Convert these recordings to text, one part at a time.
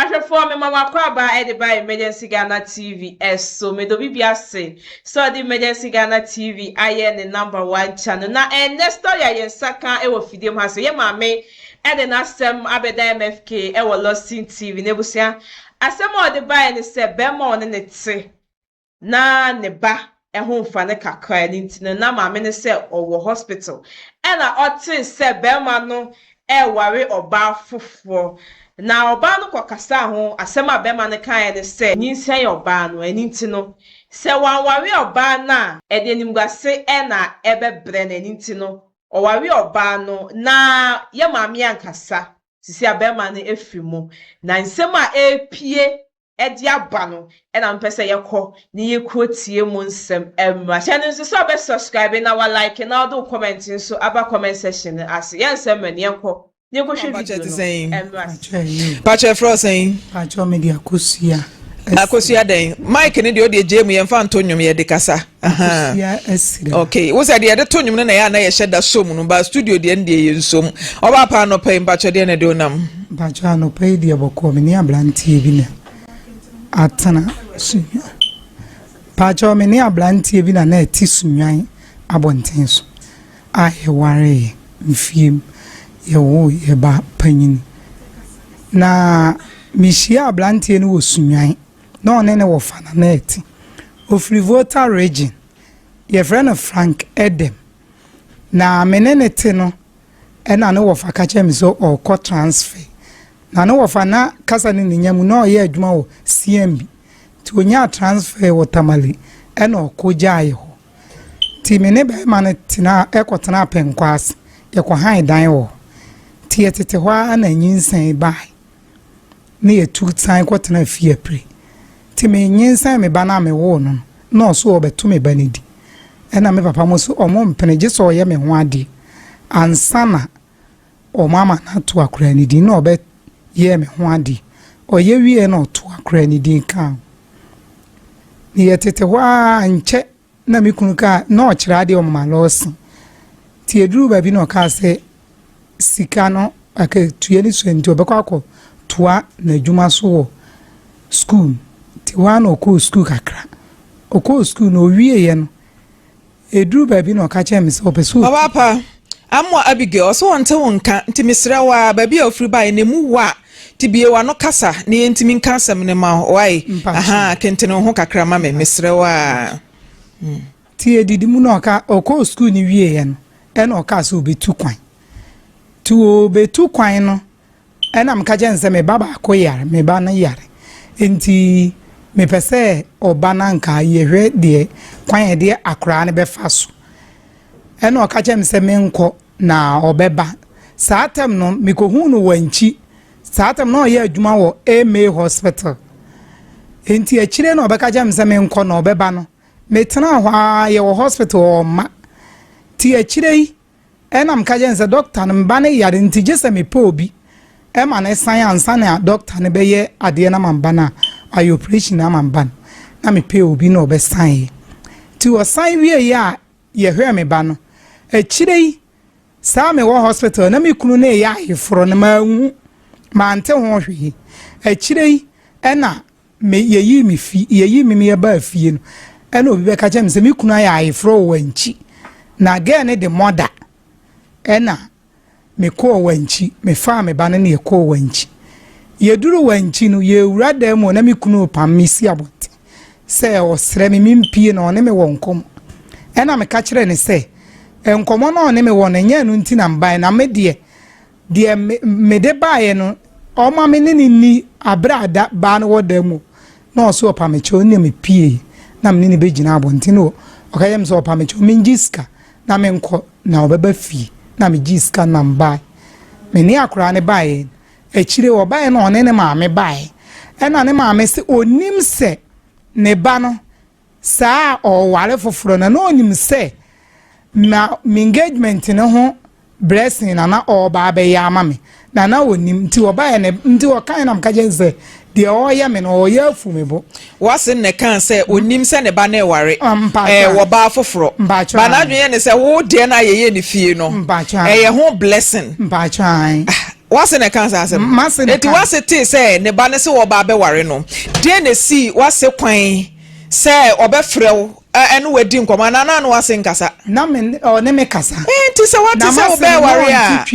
Ahwɛfoɔ mema mo akwaabaa de ba Emergency Ghana TV so. Meda obi bia ase sɛ ɔde Emergency Ghana TV ayɛ ne number one channel. Na ɛnnɛ story a yɛn nsa ka wɔ fidie mu ha sɛ yɛn maame de n'asɛm abɛda MFK wɔ Lawson TV. N'abusua asɛm a ɔde baeɛ ne sɛ bɛɛma a ɔne ne te. na ne ba ho mfa no kakra no nti no na maame no sɛ ɔwɔ hospital ɛna ɔtee sɛ barima no reware ɔbaa foforɔ na ɔbaa no kɔkasaa ho, asɛm a barima no kaeɛ ne sɛ nyinsɛn yɛ ɔbaa no ɛno nti no sɛ wanware ɔbaa no a ɛde animguase na ɛbɛbrɛ no ɛno nti no ɔware ɔbaa no na yɛ maame ankasa, seisei a barima no afiri mu na nsɛm a ɛrepue de aba no na mepɛ sɛ yɛkɔ na yɛkɔ tie mo nsɛm mmra. Hyɛ no nso sɛ ɔbɛ subscribe na wa like na ɔde wo comment nso aba comment section no ase. Yɛn nsɛ mmerɛ no yɛnkɔ na yɛnkɔ hwɛ video no mmra ase. Pakyɛ ɛfrɛ wo sɛn? Pakyɛ me de akosua. Akosua dɛn? Mic no deɛ wo deɛ gyae mu yɛmfa nto nnwom yɛde kasa. Akosua Asira. Okay, wo sɛ deɛ yɛde to nnwom no na yɛ a na yɛhyɛ da som no ba studio deɛ no deɛ yɛ nsom. Ɔbaa paa anɔpa yi mpakyɛ deɛ na ɛde onam. Mpakyɛ anɔpa yi deɛ bɔkɔɔ me ne abranteɛ bi na atena sunwa. Mpakyɛ me ne abranteɛ bi na na ɛte sunwan abɔnten so a yɛware yɛ mfiem yɛwo yɛ ba panyini. Na mehyia abranteɛ no wɔ sunwan. na ɔne no wɔ fananɛɛte. Ɔfiri Volta Region. Yɛfrɛ no Frank Edem. Na me ne no te no, ɛna ne wɔfa ka kyerɛɛ me sɛ ɔrekɔ transfer. Na ne wɔfa na kasa ne ne nya mu, na ɔreyɛ adwuma wɔ CMB. Nti ɔnyaa transfer wɔ Tamale, ɛna ɔkɔ gyaeɛ hɔ. Nti me ne barima no tenaa, ɛkɔtenaa Pɛnkwaase. Yɛkɔhae dan wɔ hɔ. Nti yɛtete hɔ ara na nyinsɛn baeɛ. na yetu san kɔtenaa fie apire. Nti menyinsɛn me ba no a mewoo no no, na ɔse ɔɔbɛto me ba no di. Ɛna me papa mo se wɔmpene gye sɛ ɔyɛ me ho adeɛ ansa na wɔama no ato akoraa no din. Na ɔbɛyɛɛ me ho adeɛ. Ɔyɛ wieeɛ na ɔtoo akoraa no din kaa ho. Na yɛtete hɔ ara, ankyɛ Na me kunu kaa, na ɔkyerɛ adeɛ wɔ mama lɔɔse, nti ɛduruu baabi na ɔkaa sɛ sika no akatua no sua nti ɔbɛkɔ akɔ toa n'adwuma so wɔ sukuu mu, nti hɔ ara na ɔkɔɔ sukuu kakra, ɔkɔɔ sukuu no ɔwieeɛ no, ɛduruu baabi na ɔka kyerɛɛ me sɛ ɔpɛ sɛ ɔtu. Amoa Abigail, ɔse ɔnte wo nka, nti mesrɛ wo ara, baabi a ofiri baeɛ no emu wɔ a, te bue w'ano kasa na yɛntumi nka asɛm no ma wo, wae? Ahaa, kentene wo ho kakra ma me, mesrɛ wo ara. Nti yɛdidi mu na ɔka, ɔkɔɔ sukuu no wieeɛ no, ɛna ɔkaa sɛ ɔbɛtu kwan. Nti ɔrebetu kwan no, Ɛna meka kyerɛ no sɛ me ba baako yare, me ba no yare nti mepɛ sɛ ɔba no anka yɛhwɛ deɛ kwan a yɛde akoraa no bɛfa so. Ɛna ɔka kyerɛ me sɛ menkɔ na ɔbɛba. Saa tɛm no mekɔhuu no Wankyi. Saa tɛm na ɔyɛ adwuma wɔ AMA hospital. Nti akyire na ɔbɛka kyerɛ me sɛ menkɔ na ɔbɛba no. Metenaa hɔ ara yɛwɔ hospital ɔmma. Nti akyire yi Ɛna meka kyerɛ no sɛ dɔkta no meba ne yare nti gye sɛ mepɛ obi ma no san ansa na dɔkta no bɛyɛ adeɛ no ama mba no a ayɛ operation ama mba no na mepɛ obi na ɔbɛsan yɛ nti ɔsan wieɛ a yɛhwɛɛ me ba no akyire yi saa mewɔ hospital na me kunu no ɛyɛ ayeforɔ no manhu mante ho hwee akyire yi ɛna Me yɛyii me fi yɛyii me meyɛ baa fie no ɛna obi bɛka kyerɛ me sɛ me kunu ayɛ ayeforɔ wɔ wankyi na gɛɛ ne de mɔda ɛna mekɔɔ wankyi mefaa me ba no ne yɛkɔɔ wankyi yɛduru wankyi no yɛwura dan mu na me kunu repam me si abɔnten sɛ ɔsrɛ me mempie na ɔne me wɔ nkɔmmɔ ɛna meka kyerɛ ne sɛ nkɔmmɔ no ɔne me wɔ no ɛnyɛ ɛno nti na mbae na me deɛ Deɛ me, mede baeɛ no, ɔma me ne no nni, aberɛ a da, baa no wɔ da mu, na ɔse ɔpa me kyɛw, nna me piee, na me ne no bɛgyina abɔnten hɔ, ɔka kyerɛ me sɛ ɔpa me kyɛw mengye sika na menkɔ, na ɔbɛba fie, na megyee sika no na mebaeɛ. Me ne akoraa no baeɛ no, akyire ɔbaeɛ na ɔne ne maame baeɛ, ɛna ne maame se ɔnim sɛ ne ba no Saa a ɔreware foforo no, na onim sɛ na m'engagement no ho blessing na na ɔreba abɛyɛ ama me, na na onim. Nti ɔbaeɛ no, nti ɔkaeɛ na meka kyerɛɛ no sɛ, Deɛ ɔreyɛ me no, ɔreyɛ afu me bo. Watson na ɛkaa sɛ ɔnnim sɛ ne ba no reware wɔ baa foforɔ, but n'adwene yɛ no sɛ, Wo deɛ no a yɛyɛ no fie no, ɛyɛ ho blessing. W'ase na ɛkaa saa asɛm no. Enti w'ase tee sɛ ne ba no se wɔba abɛware no. Deɛn na ɛsii w'ase kwan sɛ ɔbɛfrɛ wo ɛne wo adi nkɔmmɔ anaa na ɔne w'ase nkasa? Na me ne ɔne me kasa. Enti sɛ w'ate sɛ wobɛɛware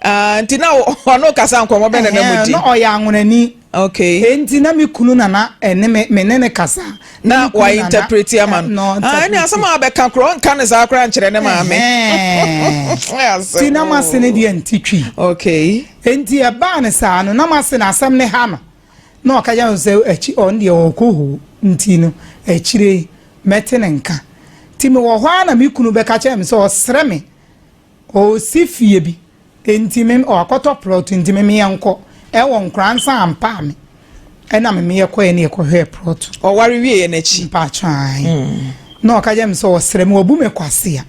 a, nti na ɔne wo kasa nkɔmmɔ bɛn na na modi? Na ɔyɛ anwonani. Okay. Enti na me kunu na na ɛne me me ne ne kasa. Na wa interprete ama no. Ah, ɛne asɛm a bɛka korɔ nka ne saa koraa nkyerɛ ne maame. Ti na ma se ne deɛ nti twi. Okay. Enti ɛbaa ne saa no na ma se na asɛm ne ha no. Na ɔka yɛ sɛ akyi ɔn deɛ ɔkɔ hoo nti no akyire mɛte ne nka. Ti me wɔ hɔ a na me kunu bɛka kyerɛ me sɛ ɔsrɛ me Ɔresi fie bi nti me ɔakɔtɔ prɔt nti me meɛ nkɔ ɛwɔ nkora nsa ampaa me ɛna me meɛ kɔɛ ne ɛkɔ hwɛɛ prɔt. Ɔware wieɛ no akyi. Mpaatwɔ ae na ɔka kyerɛ me sɛ ɔsrɛ me wabu me kwasea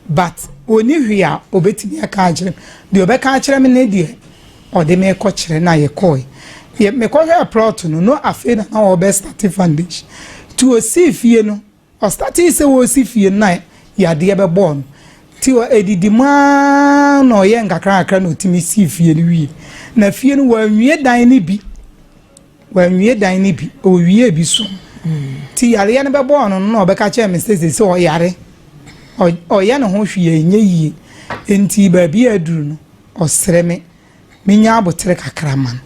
but ɔni hwee a ɔbɛtumi aka akyerɛ me deɛ ɔbɛka akyerɛ me ne deɛ ɔde me kɔ kyerɛ na yɛ kɔɛ yɛ me kɔ hwɛɛ prɔt no no afei na na ɔɔbɛ starte foundation nti ɔsii fie no Ɔstartee sɛ ɔresi fie no na yadeɛ bɛbɔɔ no nti ɛdidi mu ara na ɔyɛɛ nkakrankakra na ɔtumi sii fie no wieɛ. Na fie no wanwie dan no bi, wanwie dan no bi, ɔwiee bi so nti yareɛ no bɛbɔɔ no no na ɔbɛka kyerɛɛ me sɛ seesei ɔyare, ɔyɛ ne ho hwee a ɛnyɛ yie nti baabi a aduru no ɔsrɛ me. menya aboterɛ kakra ma no,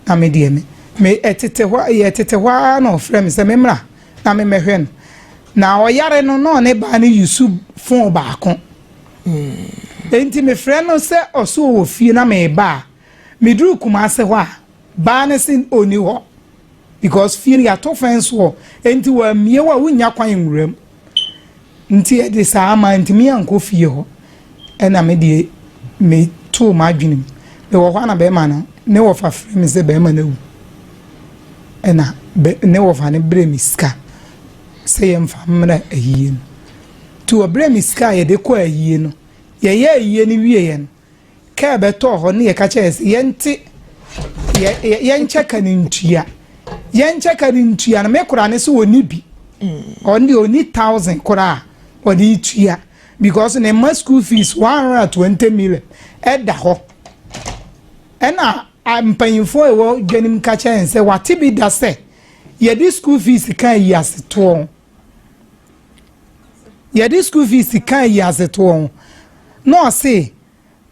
na me deɛ me, me, ɛtete hɔ, yɛtete hɔ ara na ɔfrɛ me sɛ memmra na memmɛhwɛ no. Na ɔyare no, na ɔne baa no yusu fon baako. Enti mefrɛ no sɛ ɔso ɔwɔ fie na meba a, meduru Kumase hɔ a, baa no se ɔnni hɔ because fie no yɛato fence wall, enti wammue hɔ a wonnya kwan nwura mu. Nti ɛde saa mantumi ankɔ fie hɔ ɛna me deɛ me too m'adwenem me wɔ hɔ ana bɛɛma no ne wɔfa frɛ me sɛ bɛɛma no awu ɛna bɛ ne wɔfa no brɛ me sika sɛ yɛmfa mmerɛ ayie no nti wɔbrɛ me sika a yɛde kɔ ayie no yɛyɛ ayie no wieɛ no. Kaa bɛtɔɔ hɔ ne yɛka kyerɛ yɛ sɛ yɛnte yɛnkyɛ ka no ntua. Yɛnkyɛ ka no ntua no me kora ne sɛ ɔni bi. Mm. Ɔno deɛ ɔni thousand kora a ɔde tua because ne mma school fees one hundred and twenty million ɛda hɔ. Ɛna mpanyinfoɔ ɛwɔ dwanim ka kyerɛ yɛn sɛ wate bi da sɛ yɛde school fees kan yi ase toɔ. yɛde school fees ka yi ase toɔ ho na ɔse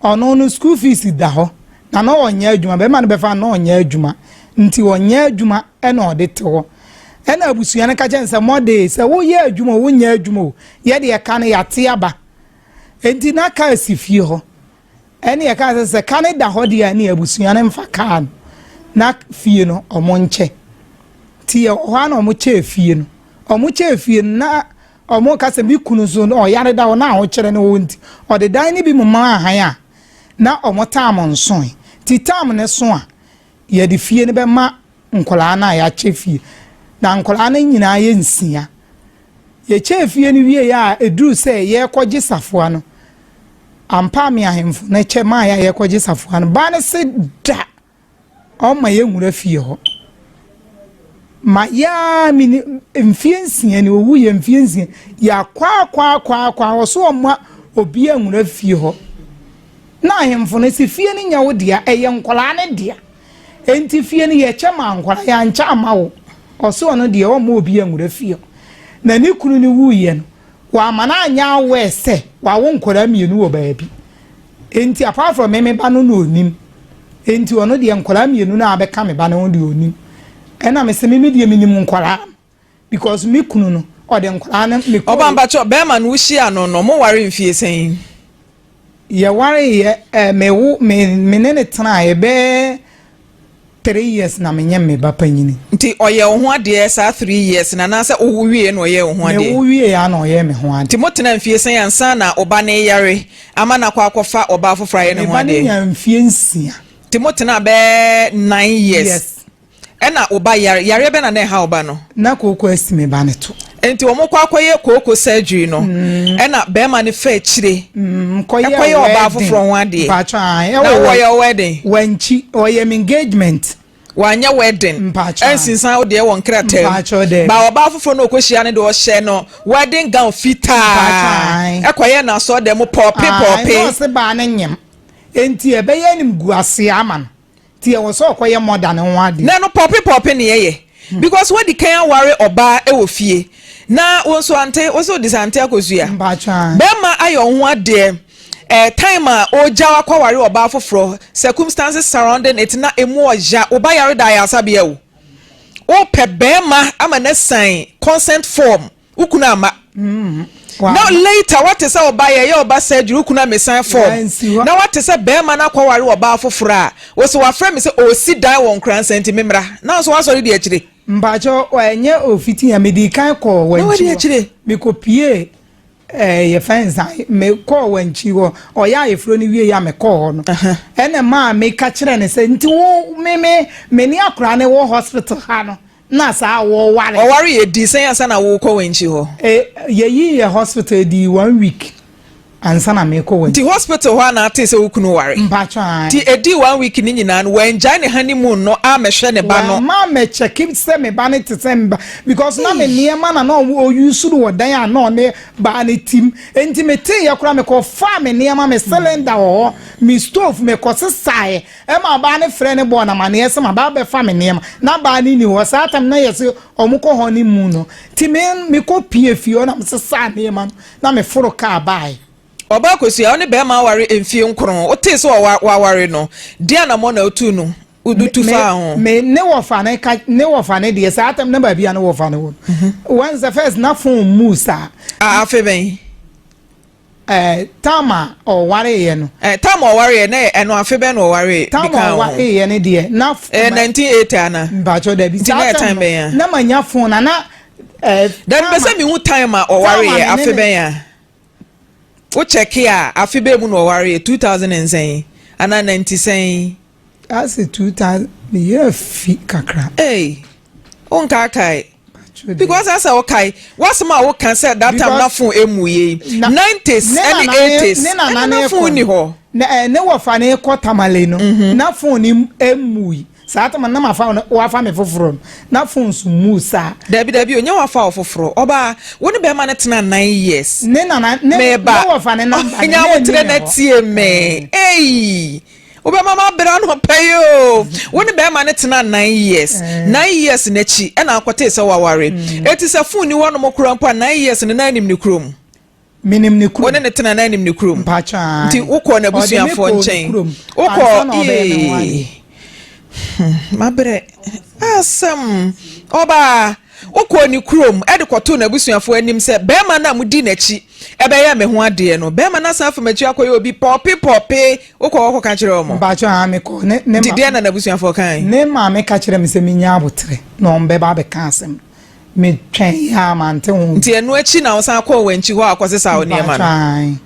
ɔno no school fees da hɔ na na ɔnyɛ adwuma bɛrima no bɛfa na ɔnyɛ adwuma nti ɔnyɛ adwuma ɛna ɔde te hɔ ɛna abusua no ka kyɛn sɛ mɔde sɛ woyɛ adwuma o wonyɛ adwuma o yɛde ɛka no yɛate aba nti na kaa si fie hɔ Ɛne ɛkaa sɛ sɛ ka no da hɔ deɛ a ne abusua no mfa kaa no na fie no ɔmo nkyɛ nti yɛwɔ hɔ a na ɔmo kyɛɛ fie no ɔmo kyɛɛ fie no na ɔmo ka sɛ me kunu nso ɔyare da hɔ na ahokyerɛ ne wɔ nti ɔde dan ne bi mu maa han a na ɔmo taam nsoe nti taam ne so a yɛde fie no bɛma nkwadaa no a yɛakyɛ fie. Na nkwadaa no nyinaa yɛ nsia. Yɛkyɛɛ fie no wieeɛ a, ɛduruu sɛ yɛrekɔgye safoa no, ampa a me ahemfo no kyɛ maaeɛ a yɛrekɔgye safoa no, baa no se da ɔmma yɛnwura fie hɔ. Mayɛ ara mene mfeɛ nsia ni, ɔwuiɛ mfeɛ nsia. Yɛakwaakwaakwaakwa wɔ so ɔmma obi anwura fie hɔ. Na ahemfo no se fie no nyɛ wo dea, ɛyɛ nkwadaa no dea. Enti fie no yɛ kyɛ maa nkwadaa, yɛankyɛ amma wo. Ɔse ɔno deɛ ɔmma obiaa nwura fie hɔ. Na ne kunu no wuiɛ no, wamma no anyɛ aware sɛ wawo nkwadaa mmienu wɔ baabi. Enti apart from me, me ba no na ɔnim. Enti ɔno deɛ nkwadaa mmienu no a abɛka me ba no ho deɛ ɔnim. Ɛna mese me me deɛ menim nkwadaa no. Because me kunu no ɔde nkwadaa no me kɔɔ. Ɔba mpakyɛw bɛɛma no wo hyia no no mo ware mfie sɛn. Yɛ ware yɛ eh, me wo me me ne ne tena yɛ bɛɛ three years na me nyɛ me ba panyini. Nti ɔyɛ wo ho adeɛ saa three years na anaasɛ wo wo wie na ɔyɛ wo ho adeɛ. Me wo wie ya na ɔyɛ me ho adeɛ. Nti mo tena mfie sɛn ansa na ɔba no yare ama no akɔ akɔ fa ɔbaa foforɔ ayɛ ne ho adeɛ. Me ba no nya mfie nsia. Nti mo tena bɛɛ nine years. Yes. Ɛna wo ba yare. Yareɛ bɛn na na ɛha wo ba no? Na kooko asi me ba no to. Nti wɔn kɔ akɔyɛ kooko surgery no, ɛna barima no fa akyire kɔyɛ ɔbaa foforɔ ho adeɛ. Na wɔyɛ wo wedding? Wankyi, ɔyɛ me engagement. Wanyɛ wedding? Mpakyɛw. Ansinsan wo deɛ wɔ nkrataa mu? Mpakyɛw, daabi. Ba ɔbaa foforɔ no ɔkɔhyia no deɛ ɔhyɛ no wedding gown fitaa. Mpakyɛw. Ɛkɔyɛ no asɔrdan mu pɔɔpe pɔɔpe. Ae, na ɔse baa no nyem. Nti ɛbɛyɛ animguaseɛ ama no. Nti ɛwɔ sɛ ɔkɔyɛ murder no ho adeɛ. Nɛ no pɔpe pɔpe ne yɛyɛ because wadi kan aware ɔbaa wɔ fie na wo nso ante wo se odi sa ante akosua bɛɛma ayɛ wo ho adeɛ eh, time a ɔgyaw akɔware ɔbaa foforɔ circumstances surrounding it na emu ɔya wo ba yare da ayaasabea o wopɛ bɛɛma ama no asan consent form wo kunu amma mm-hmm. na later wate sɛ ɔba yɛyɛ ɔba surgery wo kunu amesan fam na wate sɛ bɛrima no akɔware ɔbaa foforɔ a wɔsɛ wafrɛ me sɛ ɔsi dan wɔ nkora nsɛn nti memmra na nso wasɔre di akyire mpakyɛ ɛnyɛ ofiti a mede kan kɔɔ wankyi mekɔpie eh, yɛfɛ nsa mekɔɔ wankyi hɔ ɔyɛ ayeforo no wie yɛ a mekɔɔ hɔ no ɛna maa meka kyerɛ ne sɛ nti wo meme mene akora ne wɔ hospital ha no na saa a wɔware. Ɔware yɛ di sɛn ansa na wokɔ w'ankyi hɔ? E, yɛyi yɛ hospital di one week ansa na mekɔ w'ankyi. Nti hospital hɔ a na atee sɛ wo kunu ware? Mpakyɛ ae. Nti ɛdii one week no nyinaa no wangyae ne honeymoon no ammɛhwɛ ne ba no? Wamma ammɛkyɛke sɛ me ba no te sɛn ba because na me nneɛma na na ɔwɔ use no wɔ dan a na ɔne baa no tim nti meteeɛ koraa mekɔfaa me nneɛma me cylinder wɔ hɔ me stove mekɔsesaeɛ Ɛma ɔbaa no frɛɛ no bɔɔ no amaneɛ sɛ maba abɛfa me nneɛma na baa no nni hɔ. Saa tam no na ɛyɛ sɛ wɔkɔ honeymoon no nti me mekɔ pue fie hɔ na me sesaa nneɛma no na me foro kaa baaɛ. Ɔbaa Akosua, wo ne bɛɛma aware mfie nkron, wo tee sɛ w'aware no, deɛn anamɔ na wotuu no, wo tu faa ho? Me, me, ne wɔfa no ka, ne wɔfa no deɛ, saa tam na baabi a ne wɔfa no wɔ no, wɔn sɛ first na phone muu saa. A, afei bɛn? Ɛɛ, tam a ɔwareeɛ no. Ɛɛ, tam a ɔwareeɛ no, ɛɛ, ɛno afe bɛn na ɔwaree de kaa ho? Tam a ɔwareeɛ no deɛ, na. Ɛɛ, 1980 ana? Mpakyɛw, dabi. Nti na ɛtan bɛn a? Na ma nya fon na na. Dabi, mepɛ sɛ mehu tam a ɔwareeɛ, afe bɛn a? Wo kyɛke a, afe bɛn mu na ɔwareeɛ, 2000 nsɛn anaa ninety sɛn? Ase two thousand ne yɛ fi kakra. Ee o nkaa kae because asɛ o kae wasɛm a o kan sɛ that time na phone emu yɛ yi nineties ɛne eighties ɛna na phone ni hɔ. Na ɛɛ ne wɔ fa ne kɔ tamale no mhm. na phone ni emu yi saa tama na ma fa no wafa me foforɔ no na phone so mu saa. dabi dabi o nye wafa wɔ foforɔ ɔbaa wo ne bɛrima no tena nine years. ne nana ne ne wɔfa ne namba ne ne ne ne hɔ. nyawo tere na tie me eyi Wobɛma m'abera no pɛ yi o. Wo ne bɛrima no tenaa nine years. Nine years no akyi na akɔtee sɛ waware. Enti sɛ phone nni hɔnom koraa mpo a, nine years no na anim ne kurom? Menim ne kurom. Wo ne no tena na anim ne kurom? Mpakyɛ ae. Nti wokɔɔ n'abusuafoɔ nkyɛn? Ɔde me kɔɔ ne kurom. Wokɔɔ ansa na ɔbɛyɛ me ho ade. Ee. Hmm, mabrɛ. Asɛm. Ɔbaa. Wokɔɔ ne kurom de kɔtoo n'abusuafo anim sɛ barima no a mudi n'akyi bɛyɛɛ me ho adeɛ no. Barima no asan afa m'akyi akɔyɛ obi pɔɔpe pɔɔpe. Wokɔɔ hɔ kɔka kyerɛɛ wɔn? Mpakyɛw, Aane, mekɔɔ. Ne, ne Nti deɛn na n'abusuafoɔ kae? Ne maame ka kyerɛɛ me sɛ mennya aboterɛ na wɔbɛba abɛka asɛm. Metwɛn ara mante ho bi. Nti ɛno akyi na wosan kɔɔ wɔn akyi hɔ a wokɔsesaa wo nneɛma no? Mpakyɛw, Aane.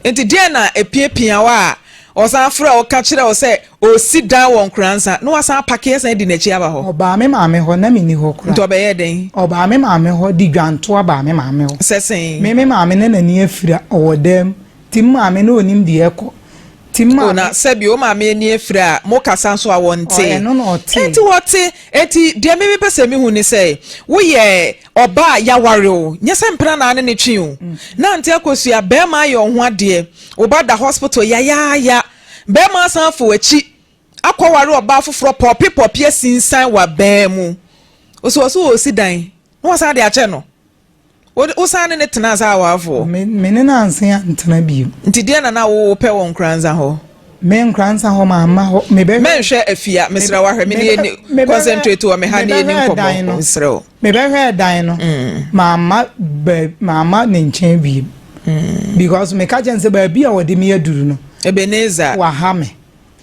Enti deɛn na epiapia wo a ɔsan frɛ wo ka kyerɛ wo sɛ ɔresi dan wɔ Nkoranza na woasan apake asan adi n'akyi aba hɔ? Ɔbaa me maame hɔ, na menni hɔ koraa. Nti ɔbɛyɛɛ dɛn? Ɔbaa me maame hɔ de dwantoa baa me maame hɔ. Sɛ sɛn? Me me maame na n'ani afira, ɔwɔ dan mu. Nti me maame na ɔnim deɛ ɛrekɔ. Nti me maame. O, na sɛbi wo maame ani afira a, mokasa nso a wɔnte. Ɔ, ɛno na ɔte. Enti wɔte. Enti deɛ me mepɛ sɛ mehu ne sɛ, woyɛ. Ɔbaa yɛaware oo, nyɛ sɛ mpena na ane no twe oo, nante akosua, bɛɛma ayɛ ɔho adeɛ, woba da hospital yayaaya, bɛɛma asan afo akyi akɔ ware ɔbaa foforɔ pɔpi pɔpi asinsan wabaa mu, ɔsɛ ɔse ɔɔsi dan na wasan de akyɛ no, wo san ne no tenaa saa awarefoɔ. Me ne no ansen antena bio. Nti deɛ na na wo pɛ wɔ Nkoranza hɔ? Me Nkoranza hɔ ma ma hɔ, me bɛhwɛ. Mɛnhwɛ afia, mesrɛ wo ahwɛ me nie concentrate wɔ me ha nie ni nkɔmɔ, mesrɛ wo. Mebɛhwɛɛ dan no, mamma baabi, mamma ne nkyɛn wiem. Because meka kyerɛ no sɛ baabi a wɔde me aduru no, Ebenezer. waha me,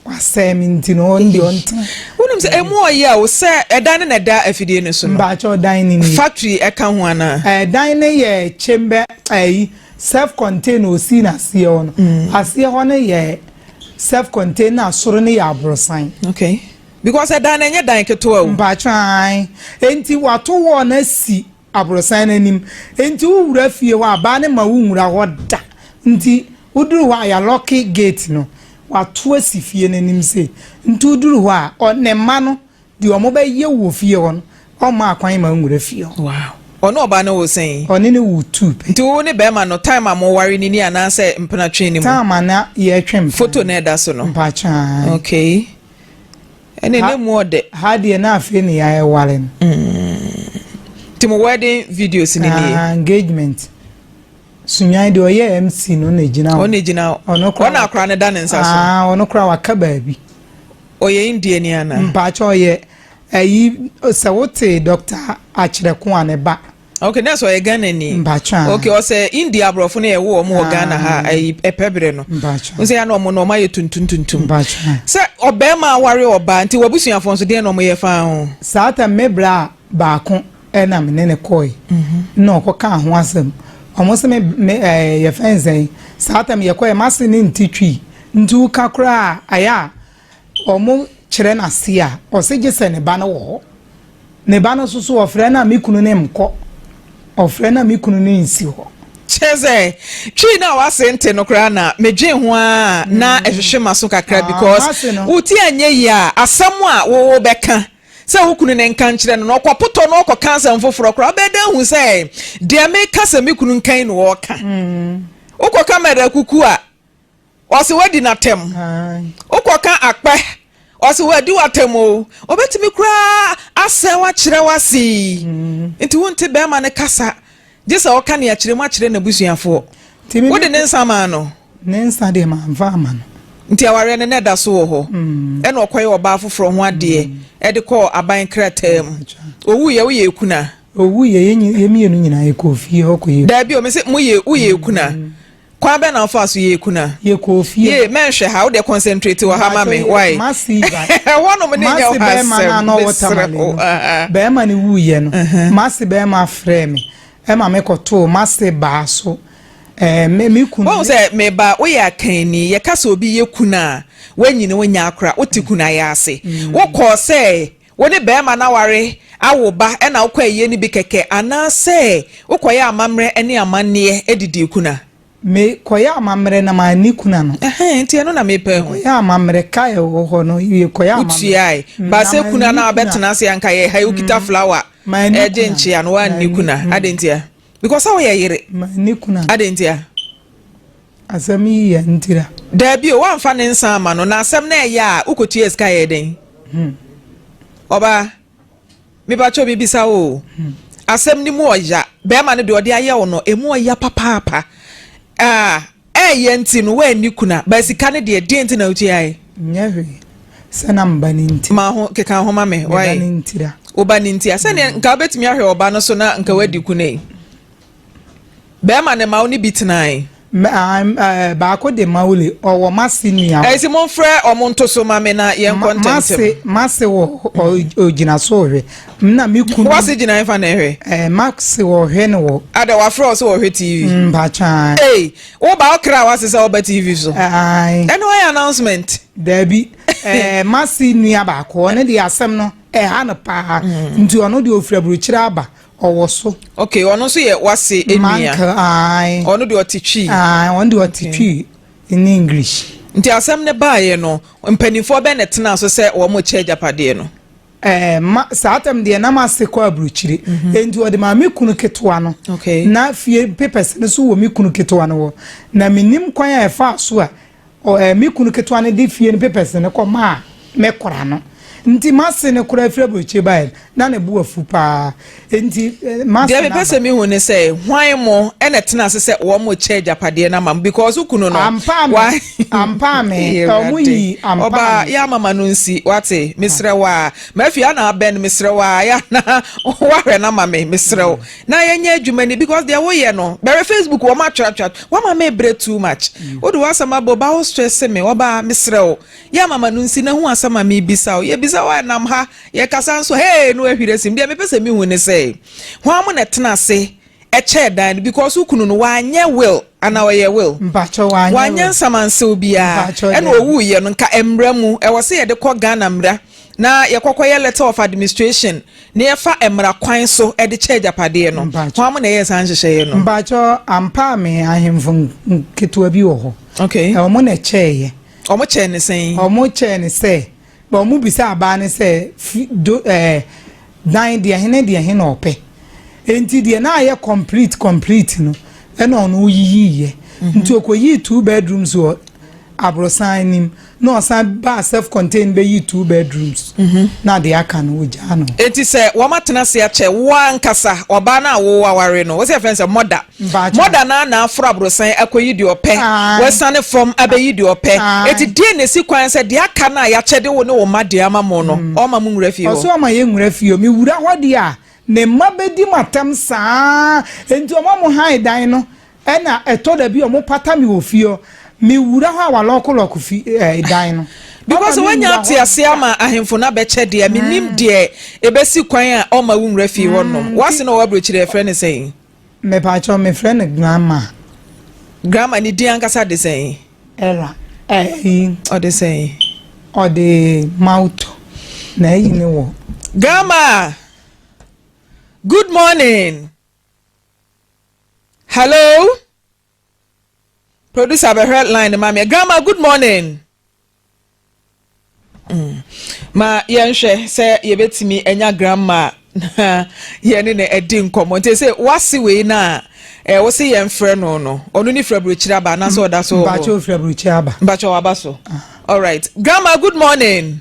wasɛe me nti no, ɔno deɛ ɔntena. Wonim sɛ ɛmu ɔyɛ a, wo sɛ ɛdan no na ɛda afidie no so no. Mpakyɛw dan no nie. Factory ɛka ho anaa? Ɛɛ dan no yɛ chamber ɛyi self contained na ɔsii no aseɛ hɔ no. Aseɛ hɔ no yɛ self contained na soro no yɛ aborosan. Okay. because ɛdan no ɛnyɛ dan ketewa o. Mpakyɛ aane, enti wato wall no asi aborosan no anim, enti wo wura fie hɔ a baa no mma wo nwura hɔ da, nti wo duru hɔ a ya locke gate no, wato asi fie no anim sei, nti wo duru hɔ a ɔ ne mma no deɛ ɔmo bɛ yɛ wɔ fie hɔ no ɔmma akwan mma wo nwura fie hɔ. Wow. Ɔne ɔbaa no wo sɛn? Ɔne no wo two pɛ. Nti wo ne bɛɛma no time a mo ware no ni anaasɛ mpena twe no mu? Time a na yɛ twe mpena. Photo no a ɛda so no? Mpakyɛ aane. Okay. ɛne ne mu ɔdɛ. Ha deɛ na afei ne ya ɛware no. Mm. Ti mo wedding videos ni ni. Ah, engagement. Sunyan deɛ ɔyɛ MC no na egyina hɔ. Ɔna egyina hɔ. Ɔno kora. Ɔna akora ne da ne nsa so. Ah, ɔno kora waka baabi. Ɔyɛ India ni ana. Mpakyɛ ɔyɛ ɛyi sɛ wote Dr. Akyerɛko a ne ba. Okay na sɛ ɔyɛ Ghana ni. Mpakyɛ. Okay ɔsɛ India aborɔfo no yɛwo wɔn wɔ Ghana ha ah. ayi ɛpɛ bere no. Mpakyɛ. N sɛ yɛn na wɔn na wɔn ayɛ tuntum tuntum. Mpakyɛ. Sɛ ɔbɛrima aware ɔbaa nti wabusuafo nso deɛ na wɔn yɛ faa ho. Saa tam me bra baako ɛna me ne ne kɔɛ. Mhm. Na ɔkɔ kaa ho asɛm. Wɔn sɛ me me ɛɛ eh, yɛ fɛn sɛn. Saa tam yɛ kɔɛ ma se ne nti twi nti woka koraa ayɛ a. Wɔkyerɛ no ase a, ɔse gye sɛ ne ba no wɔ hɔ. Ne ba no nso so, ɔfrɛ no a, me kunu no nkɔ. Ɔfrɛ no a, me kunu no nsi hɔ. Kyerɛ sɛ, Twi no a w'ase nte no koraa na medwen ho ara a na ɛhwehwe m'aso kakra because wo ti anyɛ yie a, asɛm a wobɛka sɛ wo kunu no nka nkyerɛ no no, ɔkɔpotɔ na ɔkɔka asɛm foforɔ koraa. Wobɛyɛ dɛn ahu sɛ deɛ meka sɛ me kunu nka yi na ɔreka? Wokɔka mɛrɛkuku a. Ɔse wadi n'atam. Wokɔka akpɛ, ɔse wadi w'atam o. Obetumi koraa asɛe wo akyerɛ wo ase. Nti wonte bɛrima no kasa gye sɛ ɔka nea kyerɛ mu akyerɛ n'abusuafoɔ. Wode ne nsa maa no? Ne nsa deɛ mamfa ama no. Nti awareɛ no na ɛda so wɔ hɔ. Ɛna ɔkɔyɛ ɔbaa foforɔ ho adeɛ ɛde kɔɔ aban krataa mu. Owuiɛ woyɛ ekuna? Owuiɛ yɛ mmienu nyinaa yɛkɔɔ fie hɔ kɔyɛ. Daabi o, mese moyɛ woyɛ ekuna. Kwan bɛn na wofaa so yɛɛ kuna? Yɛkɔɔ fie. Yie, mɛnhwɛ ha, wo deɛ concentrate wɔ ha ma me, wai? Mercy ba. Ɛhɔnom ne nyɛ hɔ asɛm, mesrɛ wo. Mercy bɛrima no a na ɔwɔ Tamale no, bɛrima no wuiɛ no, Mercy bɛrima frɛɛ me ma mekɔtoo Mercy baa so. Ɛɛ, me, me kunu. Woahu sɛ, me ba, woyɛ akanni. Yɛka sɛ obi yɛ kuna a, woanyini, wonyɛ akora, wote kuna yɛ ase. Wokɔɔ sɛ Wo ne barima no aware, awo ba na wokɔ ayie no bi kɛkɛ anaasɛ wokɔyɛ amammerɛ ne amanneɛ didii kuna? Me kɔyɛ amammerɛ na manni kuna no. Ɛhɛn, nti ɛno na mepɛ ho. Kɔyɛ amammerɛ, ka a ɛwɔ hɔ no wie, kɔyɛ amammerɛ. Wotuae. Ba sɛ kuna no a wobɛtena ase anka yɛ ha yi, wokita flower ɛde nkyea no, woanni kuna. Adɛn ntia? Because sɛ woyɛ yere. Ma ne kunu a. Adɛn ntia? Asɛm yi yɛ ntira. Daabi o, woamfa ne nsa amma no, na asɛm no ɛyɛ a, wokɔtuaa sika yɛɛ dɛn? Hmm. Ɔbaa, mepakyɛw mebisa wo o. Hmm. Asɛm no mu ɔya. Bɛrima no deɛ ɔde ayɛ wo no, ɛmu ɔya papaapa. Ah, Ɛyɛ nti no woanni kuna. But sika no deɛ deɛ nti na wotuae? Nyɛ hwee. Sɛ na me ba no nti. Ma ho keka ho ma me. Why? Me ba no nti da. Wo ba no nti a. Sɛdeɛ nka wobɛtumi ahwɛ ɔba no so na nka woadi kuna yi. Bɛrima no ma wo ne bi tenae. Baako de ma wo le ɔwɔ mase nua hɔ. Ɛsi momfrɛ ɔmo nto so ma me na yɛnkɔ ntɛmntɛm. Mase wɔ ogyina so hwɛ. Nna me kun. W'ase gyina hefa na ɛhwɛ? Ɛɛ eh, Max wɔhwɛ no wɔ. Ada wafrɛ wo sɛ wɔhwɛ TV. Mm, mpatwa. Ee, wo ba ɔkra w'ase sɛ ɔba TV so. Ae. Ɛno ɔyɛ announcement. Daabi. Ɛɛ eh, Masi nua baako ɔno de asɛm no ɛha no paa. Mm. Nti ɔno de ofura burukyerɛ aba ɔwɔ so. Okay, ɔno nso yɛ w'ase enua. Manka ae. Ɔno de ɔte twi. Ae, ɔno de ɔte twi in English. Nti asɛm no baeɛ no, mpanimfoɔ bɛn na ɛtena so sɛ wɔn kyɛ agyapadeɛ no? Ɛɛ, ma, saa tam deɛ na m'ase kɔ aburokyire. Enti ɔde maa me kunu ketewa no. Na fie papers no nso wɔ me kunu ketewa no hɔ. Na mennim kwan a ɛfaa so a, ɔ, ɛɛ, me kunu ketewa no de fie no papers no kɔmaa me kora no. Nti m'ase no koraa firi aburokyire baeɛ no, na ne bo afu paa. Enti, master Deɛ mepɛ sɛ mehu ne sɛ, hwan mo na ɛtena ase sɛ wɔkyɛ agyapadeɛ no ama mo? Because wo kunu no, wa... Ampaa me, ɔmo yi ampaa me. Ɔbaa, yɛ ama ma no nsi, wate, mesrɛ wo a. Mafi, yɛ na abɛn, mesrɛ wo a, yɛ na wahwɛ no ama me, mesrɛ wo. Na yɛnyɛ adwuma ni, because deɛ woyɛ no, bɛhwɛ Facebook, wɔn atweratwerat, wama me brɛ too much. Wode w'asɛm abɔ, ɔbaa wo stress me, ɔbaa, mesrɛ wo. Yɛ mama no nsi na hu asɛm a mebisa wo. Yɛbisa wo a, ɛnam ha. Yɛkasa nso a, hee, na wahwiri asim. Deɛ mepɛ sɛ mehu ne sɛ, hwan na ɛtena ase kyɛɛ dan no? Because wo kunu no, wanyɛ will anaa ɔyɛɛ will? Mpakyɛ, wanyɛ will. Wanyɛ nsamansew biara. Mpakyɛ, daabi. Ɛna ɔwuiɛ no, nka mmara mu, ɛwɔ sɛ yɛde kɔ Ghana mmara na yɛkɔkɔyɛ letter of administration na yɛfa mmara kwan so de kyɛ agyapadeɛ no. Mpakyɛ. Hwan na ɛyɛɛ saa nhyehyɛeɛ no? Mpakyɛ, ampaa me ahemfo nketewa bi wɔ hɔ. Okay. Wɔn na ɛkyɛeɛ. Wɔkyɛɛ no sɛn? Wɔkyɛɛ no sɛ, na wɔbisa abaa no sɛ, Fi, do, eh, dan deɛ he ne deɛ he na ɔpɛ. Nti deɛ na ayɛ complete complete no, na ɔno oyiyiiɛ. Nti ɔkɔyii two bedrooms wɔ aborosan no mu, na ɔsan baa self contained bɛyii two bedrooms, na deɛ aka no, ɔgyaa no hɔ. Nti sɛ wɔatena ase akyɛ wo ankasa, ɔbaa no a wo aware no, wo sɛ yɛfrɛ no sɛ mother, Mɔda no ara na aforo aborosan akɔyi deɛ ɔpɛ, wasiane fam abɛyi deɛ ɔpɛ. Enti deɛn na ɛsi kwan sɛ deɛ aka no a yɛakyɛde wo ne wo mma deɛ ama mo no, ɔremma monwura fie hɔ? Ɔse ɔremma yɛnwura fie hɔ. Mewura hɔ deɛ a, me mma bɛdi me atɛm saa ara. Enti wɔma mo hann dan no, ɛna ɛtɔ da bi a wɔpata me wɔ fie hɔ. Mewura hɔ a, wɔalɔkolɔko fi ɛɛ dan no. Because woanya ateaseɛ ama ahemfo no abɛkyɛ deɛ a, mennim deɛ ɛbɛsi kwan a ɔremma wonwura fie hɔ nom. W'ase no a ɔwɔ aburokyire, yɛfrɛ no sɛn? Mepakyɛw mefrɛ no grandma. Grandma ne din ankasa de sɛn? Era ɛyi. Ɔde sɛn? Ɔde mawutɔ na ayi ne wɔ. Grandma, good morning. Hello. Producer bɛhwɛ line no ma me. Grandma good morning. Mm. Ma yɛnhwɛ sɛ yɛbɛtumi anya grandma na yɛne no adi nkɔmmɔ. Nti sɛ wase wei no a eh, wo se yɛmfrɛ no no. Ɔno ne firaburokyiri aba anaasɛ ɔda so wɔ hɔ? Mpakyɛ ɔfiri aburokyiri aba. Mpakyɛ waba so. Ah. All right. Grandma good morning.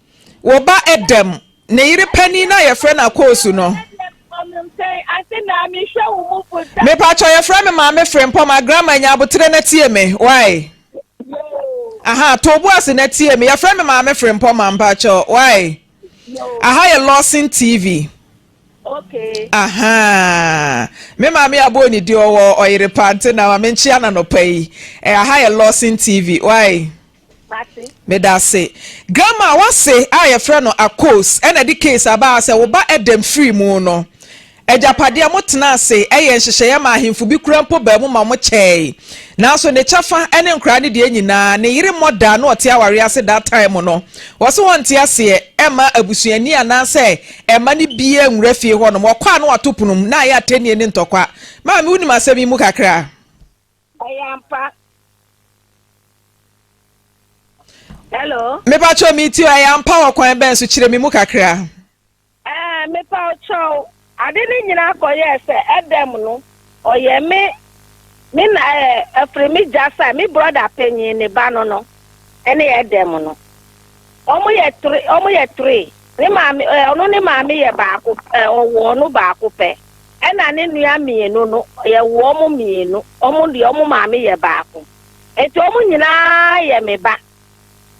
wo ba Adam ne yere panin no a yɛfrɛ no Akoosu no. Mepatwɔ yɛfrɛ me maame Frempɔ ma grandma nya abotere na tie me why. Aha to bo ase na tie me yɛfrɛ me maame Frempɔ ma mpatwɔ why. Aha yɛ Lawson TV. Okay. Aha. Me maame abɔ ne di ɔwɔ ɔyere pa nti na maame nkyia na nɔpa yi. Eh, aha yɛ Lawson TV. Why? Mate. Medase. Grandma wase a yɛfrɛ no Akos na ɛde case aba ha sɛ wo ba Edem firi mu no agyapadeɛ mo tenaa ase yɛɛ nhyehyɛeɛ maa ahemfo bi koraa mpo baa mu ma wɔn kyɛɛe nanso ne kyɛfa ne nkoraa ne deɛ nyinaa ne yere mmɔ da a na ɔte awareɛ ase that time no wɔse wɔnte aseɛ ɛmma abusuani anaasɛ ɛmma no biaa nwura fie hɔnom ɔkɔ a na wato pono mu na ayɛ atɛnnie ne ntɔkwa maame wonim asɛm yi mu kakra Ɛyɛ ampa. Hello. Mepatwɔ mi ti ɛyɛ ampa wɔ kwan bɛn so kyerɛ mi mu kakra. Ɛɛ eh, mepatwɔ ade ne nyinaa akɔyɛ sɛ ɛdɛm no ɔyɛ me me na ɛɛ eh, ɛfiri me gya sa me brɔda panyin ne ba no no ɛne ɛdɛm no. Ɔmo yɛ three, ɔmo yɛ three. Ne maame eh, ɔno ne maame yɛ baako eh, ɔwɔ ɔno baako pɛ. Ɛna ne nua mmienu no, yɛwɔ ɔmo mmienu. Ɔmo deɛ ɔmo maame yɛ baako. Enti ɔmo nyinaa yɛ me ba.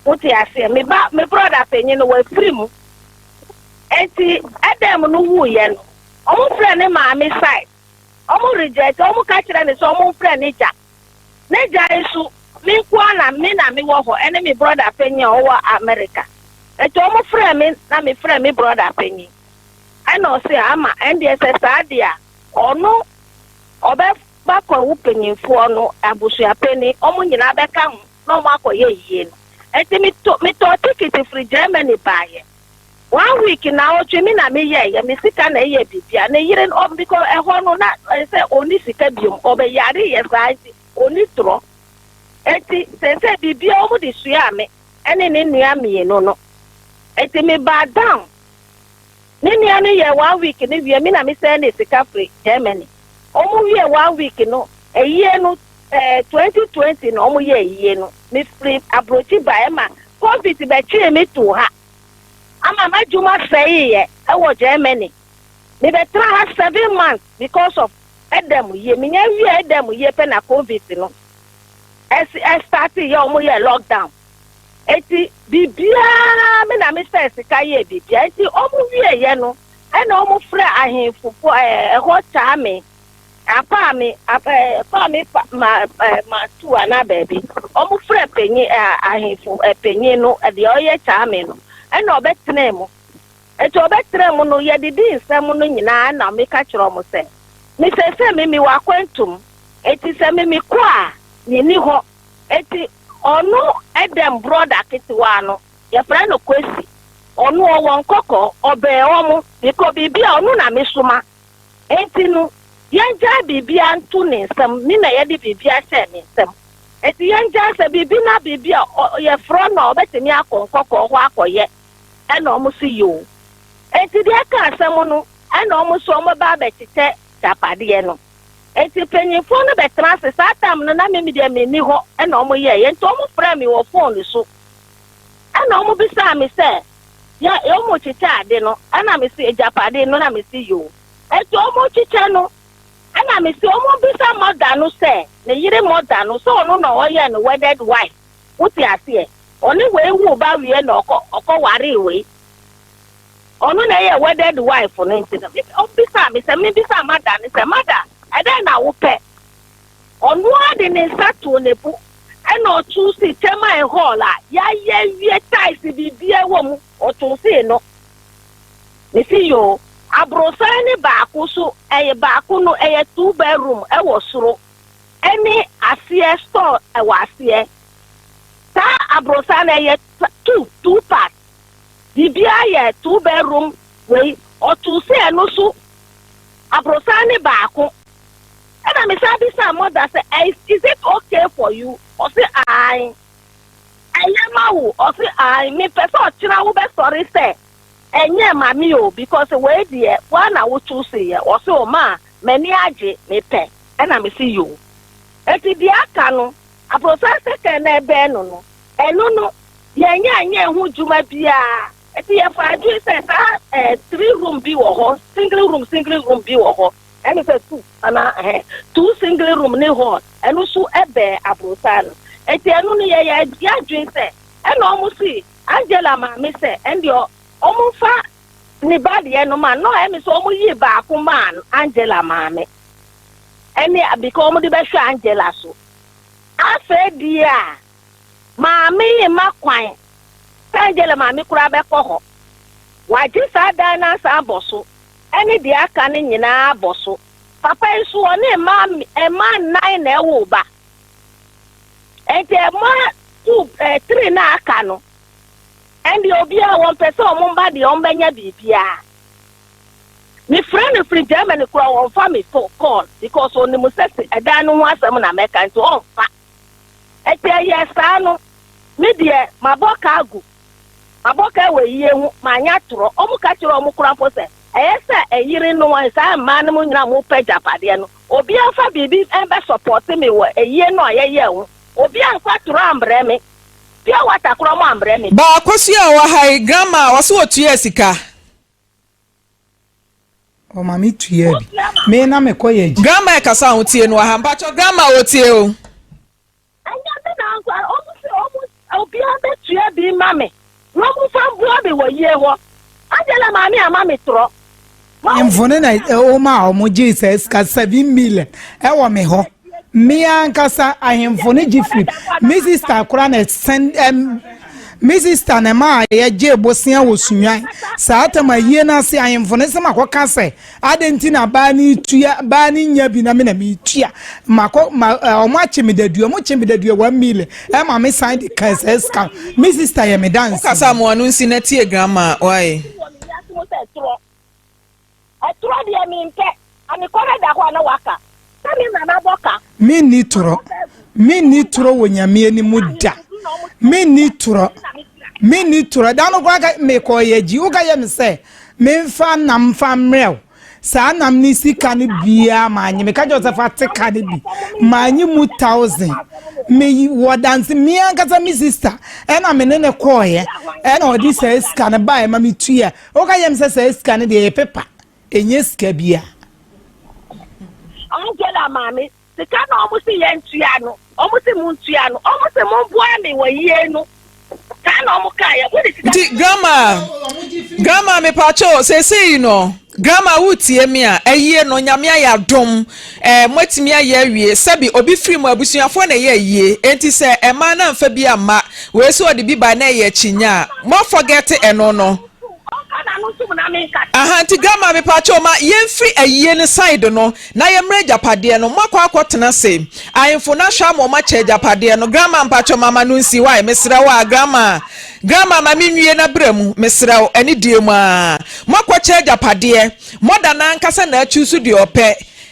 Wote aseɛ? Me ba, me brɔda panyin no, wafiri mu. Enti Adam no wuiɛ no, ɔmo frɛ ne maame side. Ɔmo regyae sɛ ɔmo ka kyerɛ no sɛ ɔmo mfrɛ ne gya. Ne gya nso, me nko ara na me na mewɔ hɔ, ɛne me brɔda panyin a ɔwɔ Amerika. Enti ɔmo frɛɛ me na me frɛɛ me brɔda panyin. Ɛna ɔse ama ɛndeɛ sɛ saa deɛ a, ɔno ɔbɛba Kwawu panyinfoɔ no abusua panyin, ɔmo nyinaa bɛka ho na ɔmo akɔyɛ ayie no. Enti me to, me tɔɔ tikiti firi Germany baeɛ. One week naawɔtwe me na me yɛ yɛ me sika na ɛyɛ biribi a ne yere no ɔ bikɔ ɛhɔ no na ɔyɛ sɛ ɔnni sika biom ɔbɛ yare yɛ saa nti ɔnni torɔ ɛti sɛsɛ biribi a wɔn de suaa me ɛne ne nua mmienu no ɛti me baa down ne nua no yɛ one week no wie me na me sɛn ne sika firi Germany wɔn wie one week no ɛyie no Ɛɛ twenty twenty na ɔmo yɛɛ yie no me firi abrokyi baɛ ɛma covid bɛ twee me too ha ama m'adwuma sɛeeɛ ɛwɔ Germany me bɛ tra ha seven months because of ɛda mu yie me nya wieɛ ɛda mu yie pɛ na covid no ɛsi ɛstartee yɛ ɔmo yɛɛ lockdown eti biribiaa me na me sɛɛ sika yɛɛ biribiaa eti ɔmo wieɛ yɛ no ɛna ɔmo frɛ ahenfo fo ɛɛ ɛhɔ kyaa me. Apaa me, apaa eh, apaa me pa, ma, eh, ma tu anaa baabi. Ɔmo frɛ panyin, eh, ahemfo, eh, panyin no, eh, deɛ ɔyɛ kyaame no, ɛna ɔbɛtenaa mu. Enti ɔbɛtenaa mu no, yɛdidi nsɛm no nyinaa, ɛna meka kyerɛ ɔmo sɛ, Me seesei me mewɔ akwantum, enti sɛ me mekɔ a, me nni hɔ. Enti ɔno dɛm brɔda ketewaa no, yɛfrɛ no Kwesi, ɔno ɔwɔ nkɔkɔɔ, ɔbɛn ɔmo, bikɔ biribi a ɔno na mesoma. Enti no, yɛngyae biribiara nto ne nsam, me na yɛde biribiara hyɛɛ ne nsam. Enti yɛngyae sɛ biribi na biribi a yɛfrɛ no a ɔbɛtumi akɔ nkɔkɔɔ hɔ akɔyɛ ɛna wɔn nso yɛ o. Enti deɛ ɛka asɛm no, ɛna wɔn nso wɔbɛba abɛkyekyɛ gyapadeɛ no. Enti mpanyimfoɔ no bɛtena ase, saa tam no na me deɛ menni hɔ na wɔyɛeɛ, enti wɔfrɛɛ me wɔ fone so. Ɛna wɔn bisaa me sɛ, Deɛ wɔn rekyekyɛ ade no, ɛna me se, Agyapadeɛ no? Ɛna me se, Yoo. Enti wɔn rekyekyɛ no, ɛna me se, wɔn bisa mother no sɛ, ne yere mother no, sɛ ɔno na ɔyɛ no wedded wife, wote aseɛ? Ɔne wei woo ba wieɛ na ɔkɔ, ɔkɔ waree wei. Ɔno na ɛyɛ wedded wife no, nti no, wɔn bisaa me sɛ, me bisa mother no sɛ, mother, ɛdɛn na wopɛ? Ɔno ara de ne nsa too ne bo na ɔtoo see termine hall a yɛayɛ awie, tiles biribiara wɔ mu, ɔtoo see no. Mese yoo, aborosan ne baako so ɛyɛ baako no ɛyɛ two bedroom ɛwɔ soro ɛne aseɛ store ɛwɔ aseɛ. Saa aborosan no ɛyɛ two, two part, biribiara yɛ two bedroom wei, ɔtoo see ɛno so aborosan ne baako. Ɛna me san bisaa mother sɛ is is it ok for you? Ɔse ae. Ɛyɛ ma wo? Ɔse ae. Me pɛ sɛ ɔkyena wo bɛ sɔre sɛ ɛnyɛɛ ma me o because wei deɛ woa na wo choose yɛ. Ɔse o maa m'ani agye me pɛ. Ɛna me se yoo. Enti deɛ aka no abrosan sɛkɛn na ɛbɛn no no ɛno no yɛn nyɛ ɛnyɛɛ ho dwuma biaa. Enti yɛ faa adwene sɛ saa eh three room bi wɔ hɔ single room single room bi wɔ hɔ. Ɛne sɛ tu anaa ɛhɛ two single room ne hall ɛno so ɛbɛɛ aborosaa no ɛti ɛno no yɛ yɛ yɛ adwen sɛ ɛna ɔmo se Angela maame sɛ ɛndeɛ ɔmo nfa ne ba deɛ no ma no ɛme sɛ ɔmo yii baako maa Angela maame ɛne because ɔmo de bɛhwɛ Angela so afei deɛ a maame yi ma kwan sɛ Angela maame koraa bɛkɔ hɔ wagye saa dan no asan abɔ so ne deɛ aka no nyinaa bɔ so. Papa yi so ɔne mmaa mmaa nnan na ɛwoo ba. Ɛnti mmaa two ɛɛ three no a aka no, ɛndeɛ obiara wɔmpɛ sɛ wɔn mma deɛ wɔbɛnya biribiara. Mefrɛ no firi Germany koraa wɔmfa me fo call because ɔnim sɛ se ɛdan no ho asɛm na mɛka nti ɔmfa. Ɛnti ɛyɛɛ saa no, me deɛ mabɔ ka agu. Abɔkaa wɔ yie ho, manyɛ atorɔ. Wɔn ka kyerɛɛ wɔn kurafoɔ sɛ, Ɛyɛ sɛ ɛyere no wɔn, saa mmaa no mu nyinaa a mopɛ agyapadeɛ no, obiara mfa biribi mmɛsɔpɔɔte me wɔ ayie no a yɛyɛɛ ho. Obiara amfa atorɔ ammrɛ me, pure water koraa moammrɛ me. Ba Akosua a ɔwɔ ha yi, grandma, ɔse ɔtuaa sika. Ɔma me tuaa bi. Me na mekɔyɛ adwuma. Grandma ɛkasa a wotie no wɔ ha. Mpakyɛw, grandma, wɔtie o. Ɛnyɛ me na nko ara, wɔn se wɔn obiara bɛtua bi ma me, na wɔn mfa mboa me wɔ yie hɔ. Angela maame ama me torɔ. Mfoni na wɔma a wɔn gyee saa sika seven million ɛwɔ me hɔ. Me ankasa ahemfo no gye firi me sister koraa na ɛsɛn ɛm me sister na ɛma yɛgyee bosea wɔ Sunyani. Saa tam ayie no ase ahemfo no se makɔka sɛ. Adɛn nti na baa no retua, baa no nya bi na me na meretua? Makɔ, ma, eh, wɔn akye me dadua, wɔn kye me dadua one million, ɛma me san de kan saa sika no. Me sista yɛ me danse. Wokasa a moa no nsi na tie grandma why? Ɛtu wɔ me wiase mu sɛ ɛtorɔ. Ɛtorɔ deɛ mempɛ. Amekɔ na ɛda hɔ a na waka. Na me na mabɔ ka. Me nni torɔ. Me nni torɔ wɔ nyame anim da. Me nni torɔ. Me nni torɔ. Da no kora ka me kɔɔ yɛ gyi. Woka yɛ me sɛ me nfa nam nfa mmerɛw. Saa nam ne sika no biara ma anyi. Me ka kyɛ sɛ fa te ka no bi. Ma anyi mu thousand. Me wɔ danse me ankasa me sister. Ɛna me ne ne kɔɔ yɛ. Ɛna ɔde saa sika no baa ɛma me tuya. Woka yɛ me sɛ saa sika no deɛ yɛ pepa. Ɛnyɛ sika bi a. Angela maame, Sika no ɔmo se yɛn tua no, ɔmo se mo ntua no, ɔmo se mo boa me wɔ yie no, saa na ɔmo kaa yɛ, wode sika. Nti grandma, grandma me pacho sese yi no, grandma wo tie me a, ayie no nyame ayɛ adom, eh, mo atumi ayɛ awie, sɛbi obi firi mo abusuafoɔ na ɛyɛ ayie, enti sɛ ɛmaa na amfa bi amma, wei so ɔde bi bae na ɛyɛ akyinnye a, mo afɔgɛte ɛno no. Ɔnka n'ano ntom na menka. Aha nti grandma mepakyɛw ma yɛnfiri ayie no side no na yɛmmrɛ agyapadeɛ no moakɔ akɔ tena se ahenfo no ahwɛ ama ɔmo akyɛ agyapadeɛ no grandma mpakyɛw mama no nsi wai mesrɛ wo a grandma grandma ma menwie na bra mu mesrɛ wo ɛne deɛ mu aa moakɔ kyɛ agyapadeɛ mother no ankasa na achuusu deɛ ɔpɛ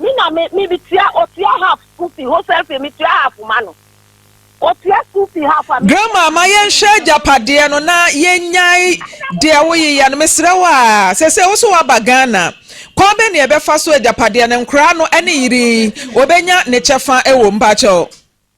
Me na me me me tua otua half school fee wholesale fee me tua half ma no otua school fee half a me. Grandma ma yɛn hwɛ agyapadeɛ no na yɛn nyae deɛ wo yeyɛ no mesrɛ wo aa sɛsɛ wo so waba Ghana kwan bɛ na yɛbɛ fa so agyapadeɛ no nkoraa no ɛne yere yi obɛ nya ne kyɛfa ɛwɔ mu mpakyɛw.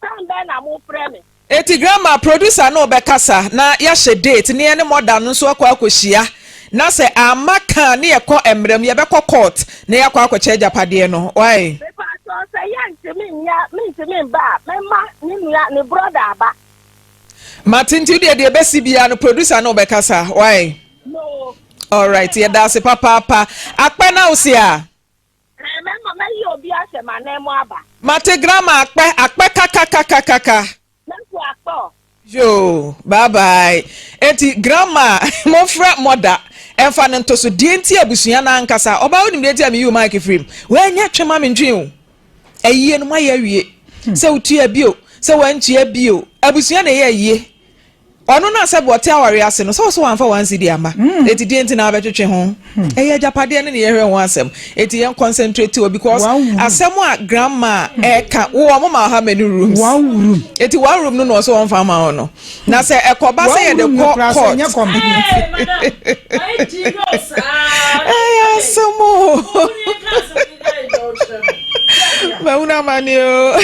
Tan bɛn na mo frɛ me? Eti grandma producer no bɛkasa na yɛahyɛ date ne yɛne mother no nso akɔ akɔhyia na sɛ amma ka a ne yɛkɔ mmara mu yɛbɛkɔ court na yɛakɔ akɔkyɛ agyapadeɛ no wai. Mepakyɛw sɛ yɛntumi nyɛ a mentumi mba a mɛma ne nua, ne brɔda aba. Mate nti wodeɛ deɛ ɛbɛsi biara no producer no bɛkasa wai. No. Alright yɛda ase papaapa. Akpɛ na wose a. Ɛɛ mɛma mɛyi obi ahyɛ m'ananmu aba. Mate grammar akpɛ akpɛ kakakakakaka. Mɛku akpɛ ɔ. Yoo bye bye enti grammar a monfrɛ mɔda ɛnfa no nto so deɛ nti abusua no ankasa ɔbaa wonim deɛ nti a meyiw mic firi mu wanyɛ twe ma me ntwee o ayie no moayɛ awie sɛ wotua bi o sɛ wantua bi o abusua na ɛyɛ ayie Ɔno na sɛb ɔte awareɛ ase no, sɛ ɔse wamfa one cedi amma, eti deɛn nti na wabɛtwetwe ho? Ɛyɛ agyapadeɛ no na yɛhwɛ ho asɛm, eti yɛn concentrate wɔ because asɛm a grandma a ɛka, wo ɔmo ma ɔha many rooms, eti one room no na ɔse ɔnfa mma wo no, na sɛ ɛkɔba sɛ yɛde kɔ court, ɛyɛ asɛm oo. mahunu amane o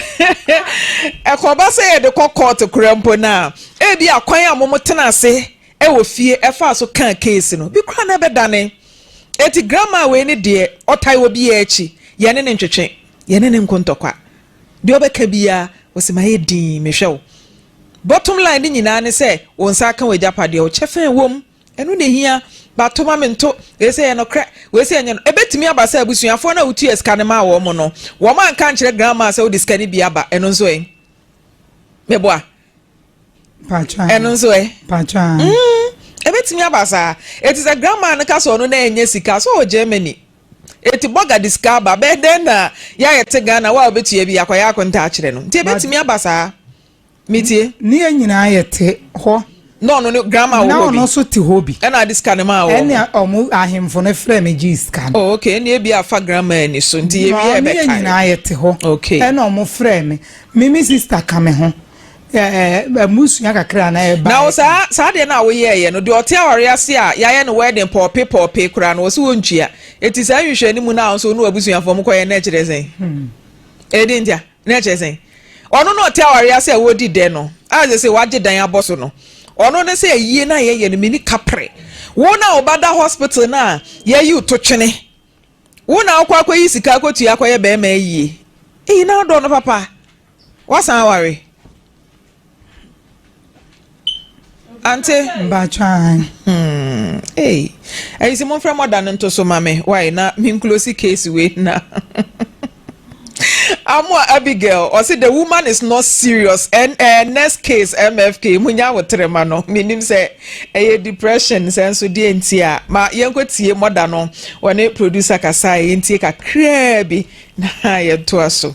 ɛkɔba sɛ yɛde kɔ kɔɔto kora mpo no a ebi akwan a mom tena ase wɔ fie ɛfaa so kaa keesi no bi kora na ɛbɛdane eti grandma wei ne deɛ ɔtae wɔ biaa akyi yɛne ne ntwetwe yɛne ne nko ntɔkwa deɛ ɔbɛka biaa wɔsi ma yɛ din mehwɛ wo bottom line ne nyinaa ne sɛ wo nsa aka wɔ agyapadeɛ wo kyɛfɛn wom Ɛno na ehia, ba to ma mento, wei sɛ yɛ nokorɛ, wei sɛ ɛnyɛ no. Ɛbɛtumi aba sɛ abusuafoɔ no a wotuaa sika no maa wɔn no, wɔanka ankyerɛ grandma sɛ wode sika no bi aba. Ɛno nso ɛ? Meboa? Ɛno nso ɛ? Mm, ɛbɛtumi aba saa. Eti sɛ grandma no ka sɛ ɔno na ɛnyɛ sika, sɛ ɔwɔ Germany, eti bɔga de sika aba, bɛyɛ dɛn na yɛayɛ te Ghana, wo a wobɛtua bi, akɔyɛ akonta akyerɛ no. Nti ɛbɛtumi aba saa. Metie. Ne yɛn nyinaa yɛte hɔ. Na ɔno ne grandma wɔ hɔ bi. Na ɔno nso te hɔ bi. Ɛna ade sika no maa wɔn. Ɛna wɔn ahemfo no frɛ me gyee sika no. Oh okay ɛna ebi afa grandma ani so nti yɛ wie ɛbɛka. Ne yɛn nyinaa yɛte hɔ. Okay. Ɛna wɔn frɛ me me me sista ka me ho ɛɛ mmusua kakra na ɛba. Na saa saa deɛ na woyɛ yɛ no deɛ ɔte awari ase a yɛayɛ no wedding pɔɔpe pɔɔpe koraa no wɔsi wɔn ntua eti saa nhwehwɛ ne mu na ahosuo no abusuafo wɔn kɔyɛ na ɛkyerɛ sɛn. Hmm. Ɛdi ntia. Na ɛkyerɛ sɛn? Ɔno na ɔte awareɛ ase a wɔredi dɛ no, a ɛsɛ sɛ wɔagye dan abɔ so no. Ɔno ne sɛ ayie no a yɛyɛ no, menni kaprɛ. Wo na wobada hospital no a yɛayi wo to twene. Wo na wokɔ akɔyi sika akɔtua akɔyɛ barima ayie. Eyi na wodɔ no papa? Woasan aware? Ante. Mpatsɔ ahan. Hmm. Ei. Ɛyi sɛ momfrɛ mɔda no nto so ma me. Why na menklosi case wei na. Amoa Abigail ɔse the woman is not serious and uh, next case MFK munya wo trema no menim sɛ ɛyɛ depression sɛ nso deɛ nti a ma yɛnkɔ tie mɔda no wɔne producer kasa yɛntie kakraa bi na yɛntoa so.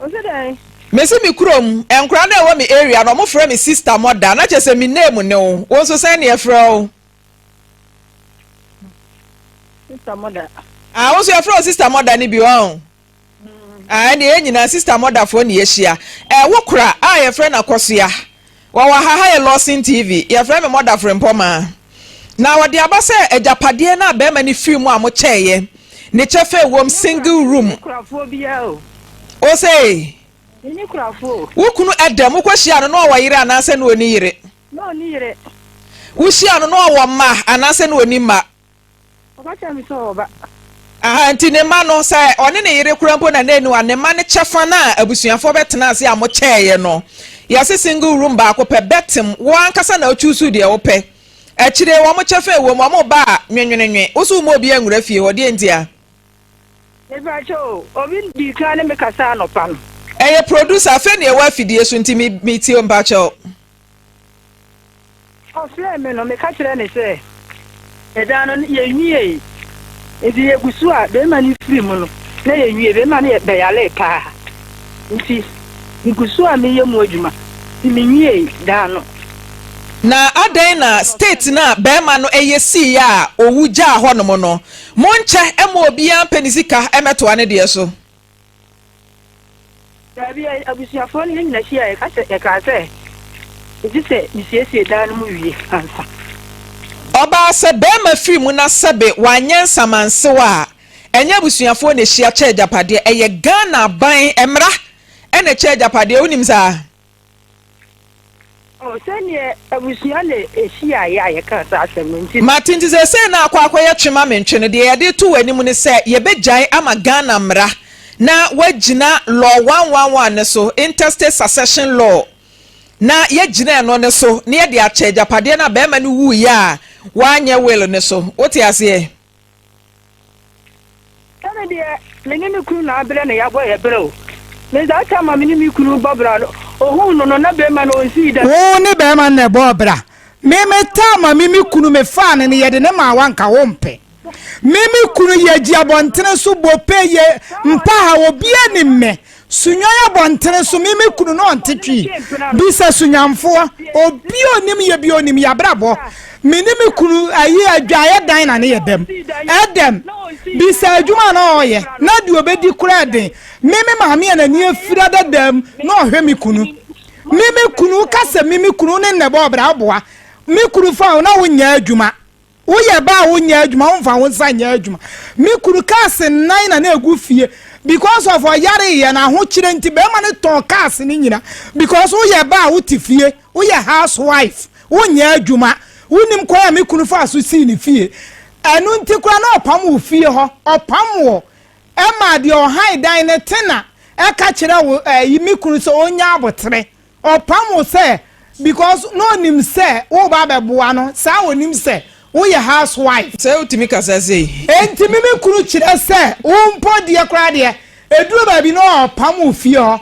Ɔsɛ dɛn? Mesi me kurom, nkora no a ɛwɔ me area no wɔfrɛ me sister mother na kyerɛ sɛ me name ne wo, wo nso sɛn na yɛfrɛ wo? Sister mother. Ah, wo nso yɛfrɛ wo sister mother no bi ɔn? Mm. Ah, ɛnna yɛn nyinaa sister motherfoɔ na yɛahyia. Eh, wo kora a yɛfrɛ no akɔsoa. Wɔwɔ ha, ha yɛ Lawson TV. Yɛfrɛ me Mɔda Frempɔmaa. Na wɔde aba sɛ agyapadeɛ no a bɛrima no firi mu a mokyɛeɛ, ne kyɛfa ɛwom, single room. Osei, wo kunu dam, wokɔhyia no na ɔwɔ yere anaasɛ na ɔni yere? Wohyia no na ɔwɔ mma anaasɛ na ɔni mma? Ɔba kyerɛ me sɛ ɔba. Aha nti ne mma no sɛ ɔne ne yere kora mpo na na aniwa ne mma no kyɛfa no a abusuafoɔ bɛtena ase a mo kyɛɛeɛ no yɛse single room baako pɛ bɛtem wo ankasa na wo choose deɛ wo pɛ akyire wɔn kyɛfa ɛwom wɔn ba a nwenwenenwe wo so wo ma obi anwura fie hɔ deɛ nti a Mepakyɛ o obi dii kan ne me kasa anɔpa no. Ɛyɛ producer afei na yɛwɔ afidie so nti me tie o mpakyɛw. Ɔfrɛɛ me no, meka kyerɛɛ no sɛ, Ɛda no, yenwiei. Enti yegu so a barima no firi mu no, na yenwiei. Barima no bɛyaree paa, enti migu so a meyɛ mu adwuma, enti minwiei da no. Na adɛn na state no a barima no yɛ siiɛ a ɔwu gyaa hɔnom no, monkyɛ mma obiara mpɛ ne sika mmɛtoa ne deɛ so? Dabi, abusuafoɔ no yɛn nyinaa hyiaeɛ, ka sɛ, yɛkaa sɛ, Gye sɛ mesiesie dan no mu wie ansa. Ɔbaa sɛ barima firi mu na sɛbe wanyɛ nsamansew a, ɛnyɛ abusuafoɔ na ɛhyia kyɛ agyapadeɛ, ɛyɛ Ghana aban mmara na ɛkyɛ agyapadeɛ, wonim saa? Mate nti seesei no akɔ akɔyɛ twe ma mentwe no deɛ yɛde reto w'anim ne sɛ yɛbɛgyae ama Ghana mmara na woagyina Law one one one no so, Interstate Succession Law, na yɛagyina ɛno no so na yɛde akyɛ agyapadeɛ no a barima no wuiɛ a wanyɛ will no so. Wote aseɛ? Sɛ me deɛ, me ne me kunu na aberɛ na yɛabɔ yɛn berɛ o. Me dza ɔtaa ma me ne me kunu bɔ bra no, ohun no no, na barimba no onnsii dɛm. Wo ne barimba no na ɛbɔɔ bra. Me me taa ma me me kunu, me faa no no, yɛde no maa wo a nka wompɛ. Me me kunu, yɛgye abɔntene so bɔ pɛ, yɛ mpa ha, obiara nim me. Sunyan abɔntene so me me kunu no ɔnte twii bisa sunyanfoɔ obi onim yɛ bi onim yabrabɔ me ne me kunu ayi adwaeɛ dan na ne yɛ dɛm ɛdɛm bisa adwuma na ɔyɛ na deɛ ɔbɛdi kora ɛden me me maame a n'ani afira dadaam na ɔhwɛ me kunu me me kunu woka sɛ me me kunu ne nnɛbɔ ɔbra woboa me kunu fa wo na wonyɛ adwuma Woyɛ ba a wonyɛ adwuma, womfa wo nsa nyɛ adwuma. Me kunu cars nnan na na egu fie because of ɔyare yɛ na ahokyerɛ nti bɛrima no tɔn cars no nyina because woyɛ ba a wote fie, woyɛ house wife, wonyɛ adwuma. Wonim kwan a me kunu faa so sii ne fie. Ɛno nti koraa na ɔpam wo fie hɔ, ɔpam wo ɛma deɛ ɔhan dan no te na ɛka kyerɛ wo ɛyi me kunu sɛ ɔnya abotere. Ɔpam wo sɛ because na ɔnim sɛ woreba abɛboa no, saa a ɔnim sɛ woyɛ house wife. Sɛ wotumi kasa sei. Enti me me kunu kyerɛ sɛ wo mpo deɛ koraa deɛ, ɛduru baabi no a ɔpam wo fie hɔ.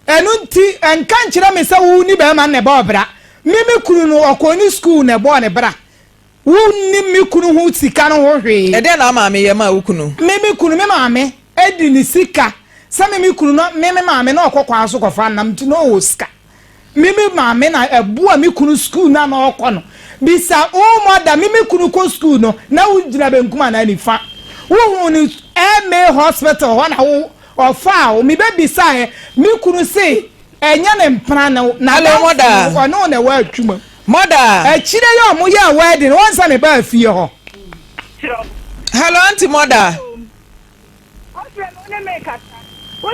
Ɛno nti ɛnka nkyerɛ me sɛ wo ne barima no na ɛbɔɔ bra. Me me kunu no ɔkɔɔ ne school na ɛbɔɔ ne bra. Wonnim me kunu ho sika no ho hwee. Ɛdeɛn na ama meyɛ maa wo kunu? Me me kunu, me maame di ne sika. Sɛ me me kunu no, me me maame na ɔkɔ kwan so kɔfa nam nti na ɔwɔ sika. Me me maame na ɛboa me kunu sukuu no a na ɔkɔ no. Bisa wo mother, me me kunu kɔ sukuu no, na wogyina benkum anaa nifa? Wohuu no MA hospital hɔ na wo ɔfaa wo? Mebɛbisaeɛ, me kunu se ɛnyɛ ne mpena ne wo, na adanse no ɔne wo na ɛwɔ atwuma mu. Mother. Akyire yi ɔmo yɛɛ wedding no wɔnsa ne baa fie hɔ. Hello aunty mother.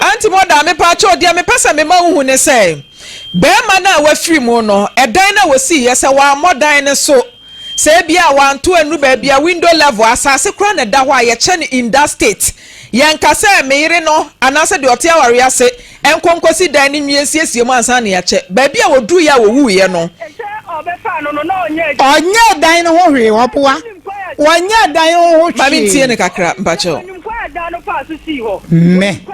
Aunty mother mepaakyɛw deɛ mepɛ sɛ mema wo hu ne sɛ bɛrima no a wafiri mu no ɛdan no a wɔsii yɛ sɛ wammɔ dan no so sɛ ebia a wanto anu baabi a window level asase koraa na ɛda hɔ a yɛkyɛ no in that state yɛnka sɛ me yere no anaasɛ deɛ ɔte awareɛ ase Ɛnkɔ nkɔsi dan no nwie nsiesie mu ansa na yɛakyɛ. Baabi a wɔduruiɛ a wɔwuiɛ no. Ɔnyɛɛ dan no ho hwee, ɔboa. Ɔnyɛɛ dan no ho hwee. Ma mentie no kakra, mpakyɛw. Me.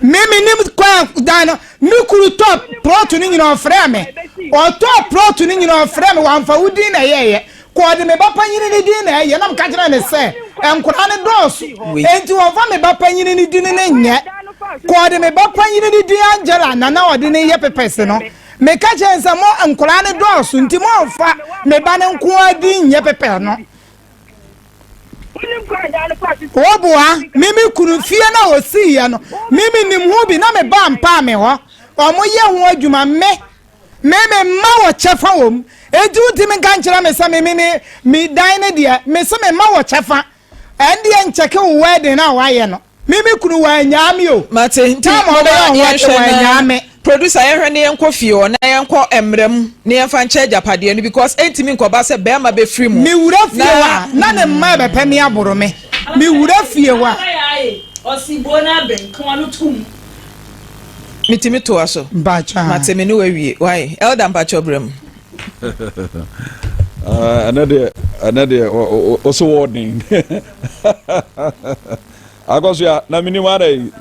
Me menim kɔ a dan no. Me kunu tɔ prɔto no nyina ɔfrɛɛ me. Ɔtɔɔ prɔto no nyina ɔfrɛɛ me, wamfa wo din na ɛyɛeɛ. Kɔ, ɔde me ba panyin no din na ɛyɛ. Na meka kyerɛɛ no sɛ, Nkwadaa no dɔɔso, enti wɔmfa me ba panyin no din no nyɛ. Kɔ, ɔde me ba panyin no din Angela na na ɔde no reyɛ pepɛs no. Meka kyerɛɛ no sɛ, Mo nkwadaa no dɔɔso, enti mommfa me ba no nko ara din nyɛ pepɛs no. Wɔboa me me kunu fie no a wɔsiiɛ no, me menim ho bi na me ba mpaa me hɔ. Wɔyɛ ho adwuma, me Me me mma wɔ kyɛfa wɔ mu enti wotumi nka nkyerɛ me sɛ me me me dan ne deɛ me se me mma wɔ kyɛfa ɛndeɛ nkyɛke wo wedding a wayɛ no me me kunu wanyaa me o mate nti mɔbɛ yɛnhwɛ na producer yɛnhwɛ ne yɛnkɔ fie hɔ na yɛnkɔ mmara mu ne yɛnfa nkyɛ agyapadeɛ no because ɛntumi nkɔba sɛ bɛrima bɛfiri mu me wura fie hɔ a na ne mma ɛbɛpɛ me aboro me me wura fie hɔ a ɔsi buo n'abɛn kɔn no tum Metumi toa so? Mpakyɛ. Mate me ne wawie. Why? Elder mpakyɛ brɛ mu. Ah, ɛnɛ deɛ ɛnɛ deɛ ɔsɛ wɔɔden akɔso a na menim ara yi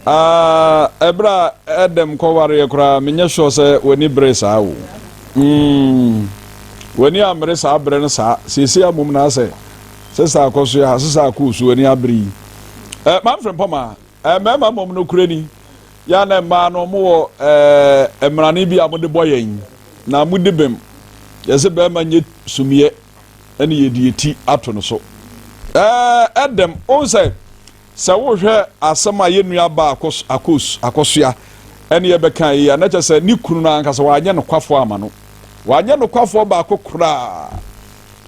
ah, ɛberɛ a ɛdɛm kɔwareɛ koraa menyɛ sure sɛ w'ani bere saa o hmm. w'ani ammere saa berɛ no saa seesei amom na asɛ Sesa kɔ so ya, sesa akɔ osu ani abere yi. Ɛɛ maa mfrempɔ ma ɛɛ mmarima mmom no kure ni. Ya na mmaa no wɔn wɔ ɛɛ mmarane bi a wɔn de bɔ yɛn na wɔn di bem. Yɛsɛ barima nye sumiɛ ɛna yɛ di yɛ ti ato no so. Ɛɛ ɛdɛm wɔn sɛ sɛ wɔhwɛ asɛm a yɛ nua baa akɔ akɔ osu akɔ so ya ɛna yɛ bɛ kan yi a na kyɛ sɛ ne kunu no ankasa wɔanyɛ no kwafoɔ ama no. Wɔanyɛ no kwafoɔ baako koraa.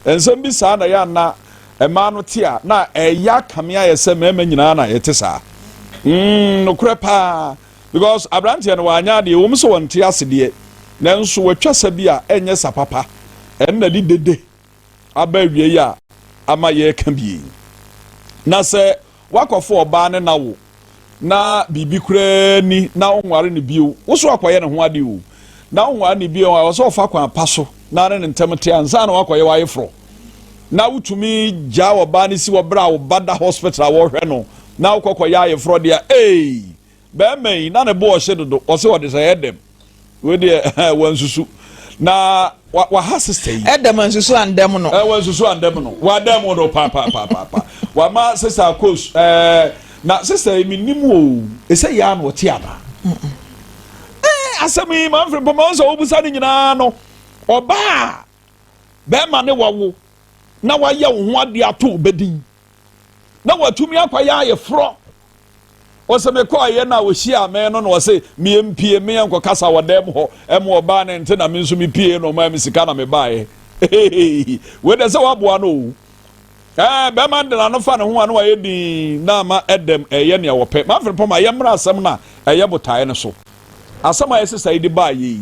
Nsɛm bi saa na ɛyɛ a na mmaa no te a na ɛyɛ akame ayɛ sɛ mmarima nyinaa na yɛte saa. Mm, nokorɛ paa. Because aberanteɛ no wanyɛ adeɛ, ɛwɔ mu sɛ wɔnte ase deɛ, nanso watwa sa bi a ɛnyɛ sa papa. Ɛno na ɛde dede aba awiei a ama yɛreka bi yi. Na sɛ Woakɔfa ɔbaa ne no awo na biribi koraa nni na wonware no bio. Wo so akɔyɛ ne ho ade o. Na wonware no bio a, ɛwɔ sɛ ɔfa kwan pa so na ne no ntɛm te ansa na woakɔyɛ w'ayeforɔ. Na wotumi gyaa ɔbaa no si hɔ berɛ a wo ba da hospital a wɔrehwɛ no na wokɔ kɔyɛ ayeforɔ deɛ a, ee! Bɛɛma yi na ne bo ɔhye dodo ɔse ɔde sɛ ɛdɛm wei deɛ wansusu na waha sista yi. Ɛdɛm ansusu andɛm no. Ɛwɔ ansusu andɛm no wadɛm wo no papapapaapa wama sista akos ɛɛ na sista yi menim o ɛsɛ yɛ a na ɔte ana ɛɛ asɛm yi ma mfiri mpɔmɔ sɛ wobusa ne nyinaa no ɔbaa bɛɛma ne wawo na wayɛ wo ho adeɛ ato bɛdin na watumi akɔyɛ ayeforɔ wɔsɛ mekɔɔyɛ no a wɔhyiaa me no na wɔse meɛ mpie meɛ nkɔkasa wɔ dɛm hɔ ɛma ɔbaa no nte na me nso mepie na ɔmaa me sika na mebaeɛ wei dɛ sɛ waboa no o ɛɛ bɛrima de n'ano fa ne ho a na wayɛ din na ama ɛdɛm ɛyɛ nea wɔpɛ mafere pɔm a yɛmmra asɛm no a ɛyɛ botaeɛ no so asɛm a ɛsesa yi de baeɛ yi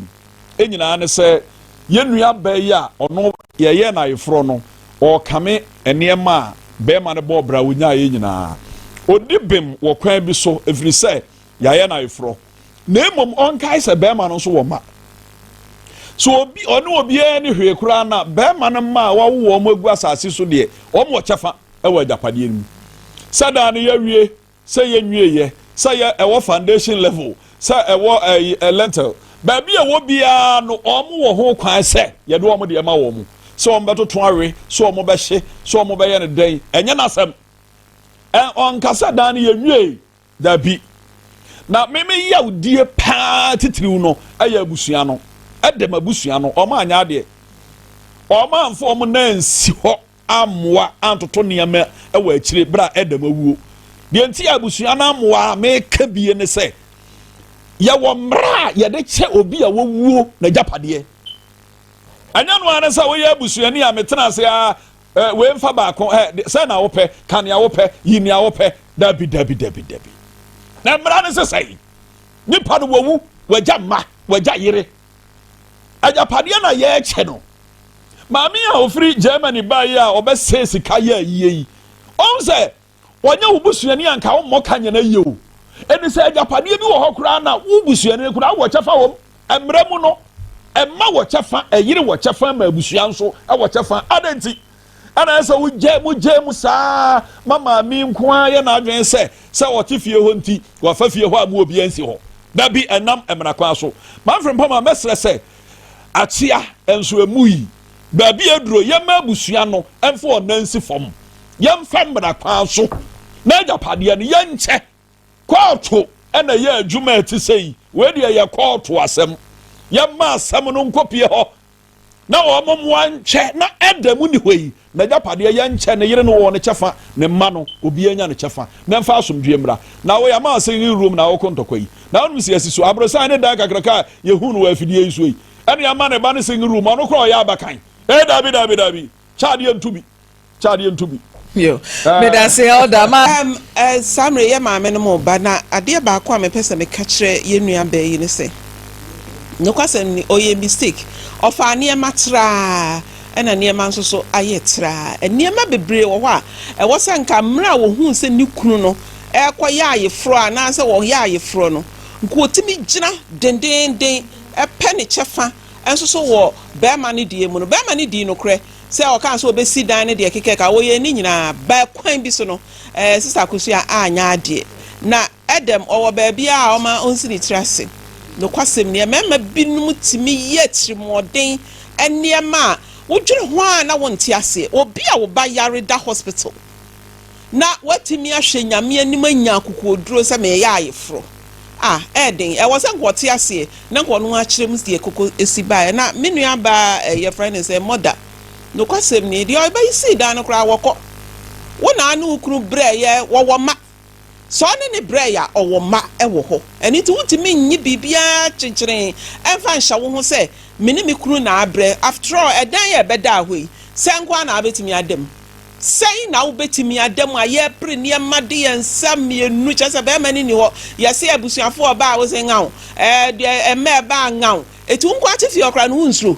nyinaa ne sɛ yɛn nuabaa yi a ɔno yɛyɛɛ no ayeforɔ no, ɔrekame nneɛma a barima no bɔɔ bra ɔnyaeɛ nyinaa. Ɔdi bem wɔ kwan bi so ɛfiri sɛ yɛayɛ no ayeforɔ. Na mmom ɔnkae sɛ barima no nso wɔ mma. Sɛ obi, ɔne obiara ne hwee koraa na barima no mma a wawo wɔn agu asase so deɛ, wɔn wɔ kyɛfa wɔ agyapadeɛ no mu. Sɛ daa no yɛawie. Sɛ yɛnwie yɛ, sɛ yɛ ɛwɔ foundation level, sɛ ɛwɔ ɛyi, ɛ, lintel, baabi a ɛwɔ biara no, wɔn wɔ ho kwan sɛ yɛde wɔn deɛ ma wɔn. Sɛ wɔn bɛtoto awe, sɛ wɔn bɛhye, sɛ wɔn bɛyɛ no dɛn, ɛnyɛ n'asɛm. Ɛ, ɔnka sɛ dan no yɛnwiei. Dabi. Na me, me yawdie paa titiriw no ɛyɛ abusua no. Ɛdɛ m'abusua no. Wɔn anyɛ adeɛ. Wɔn amfa wɔn nan ansi hɔ. ammoa antoto nneɛma wɔ akyire berɛ a Adam awuo. Deɛ nti a abusua no ammoa a meka bie ne sɛ, yɛwɔ mmerɛ a yɛde kyɛ obi a wɔwuo n'agyapadeɛ. Ɛnyɛ no ara ne sɛ woyɛ abusuani a metena ase a eh, wei mfa baako, eh, sɛ na wopɛ, ka nea wopɛ, yi nea wopɛ. Dabi, dabi, dabi, dabi. Na mmara no sesɛe. Nipa no wawu, wagya mma, wagya yere, agyapadeɛ na yɛrekyɛ no maame a ɔfiri germany baeɛ a ɔbɛsɛe sika yɛ ayie yi ɔhu sɛ wɔnyɛ wo busuani anka wommɔ ka nyɛ no ayie o ɛne sɛ agyapadeɛ bi wɔ hɔ koraa na wo busuani koraa wɔ kyɛfa wɔm mmerɛ mu no ɛma wɔ kyɛfa ɛyere wɔ kyɛfa ma abusua nso wɔ kyɛfa adɛn nti Ɛna ayɛ sɛ wogyae mu gyae mu saa ma maame nko ara yɛ n'adwene sɛ sɛ ɔte fie hɔ nti wafa fie hɔ a mu obiara nsi hɔ. Da bi ɛnam mmara kwan so Manfred Mpoma mɛsrɛ sɛ akyea nso emu yi baabi aduro yɛmma abusua no mfa wɔn nan nsi fam yɛmfa mmara kwan so n'agyapadeɛ no yɛnkyɛ. Kɔɔto na ɛyɛ adwuma a ɛte sɛyi. Wei deɛ yɛ kɔɔto asɛm. Yɛmma asɛm no nkɔpie hɔ na wɔn mmoa nkyɛ na ɛda mu ni hɔ yi n'agyapadeɛ yɛnkyɛ ne yere no wɔ ne kyɛfa ne mma no obiara nya ne kyɛfa na ɛmfa asomdwoeɛ mmra na woyɛ ama ase ne room na wokɔ ntɔkwa yi na wonom si asi so aborosan ne dan kakraka a yɛhu no wɔ afidie yi so yi ɛne ama ne ba ne singing room ɔno kora ɔyɛ abakan ee daabi daabi daabi kyɛ adeɛ nto bi kyɛ adeɛ nto bi. Yo, medase elder ma. Um, uh, saa mmerɛ yɛ maame no mo ba, na adeɛ baako a mepɛ sɛ meka kyerɛ yɛn nua baa yi ne sɛ, nokwasɛm ni, ɔyɛ mistake. Ɔfaa nneɛma traa, ɛna nneɛma nso so ayɛ traa. Nneɛma bebree wɔ hɔ a, ɛwɔ sɛ nka mmerɛ a wɔhuu sɛ ne kunu no ɛrekɔ yɛ ayeforɔ anaasɛ wɔyɛ ayeforɔ no, nka wɔtumi gyina dendeenden pɛ ne kyɛfa nso so wɔ bɛrima no deɛ mu no. Bɛrima no dii nokorɛ, sɛ ɔkaa sɛ ɔbɛsi dan no deɛ kekɛ ka ɔyɛɛ ne nyinaa but kwan bi so no ɛɛ Sister Akosua anyɛ adeɛ na ɛdɛm ɔwɔ baabi a ɔma ɔnsi ne tiri ase nokwasɛm nie mmarima binom tumi yɛ atirimuɔden nneɛma a wodwene ho a na wonte aseɛ obi a wo ba yare da hospital na watumi ahwɛ Nyame anim anya akokoɔduro sɛ meyɛ ayeforɔ a, ɛyɛ den. Ɛwɔ sɛ nka ɔte aseɛ na nka ɔno akyerɛ mu deɛ koko si baeɛ. Na me nua baa ɛ, yɛfrɛ no sɛ Mɔda. Nokwasɛm nie, deɛ ɔbɛyi sii dan no koraa wɔkɔ. Wo na wo ne wo kunu brɛeɛ, wɔwɔ mma. Sɛ ɔne no brɛe a, ɔwɔ mma wɔ hɔ. Ɛno nti, wuntumi nnye biribiara kyenkyenenn mfa nhyɛ wo ho sɛ, Me ne me kunu na abrɛ. After all, ɛdan a ɛbɛdaa hɔ yi, sɛɛ nko ara na abetumi ada mu. Sɛn na wobetumi ada mu a yɛrepere nneɛma de yɛn nsa mmienu, kyerɛ sɛ barima no nni hɔ, yɛse abusuafo ɔbaa a wose ngaw, ɛɛ deɛ mma ɛbaa ngaw, eti wo nko ara te fie hɔ koraa no, wunsuro?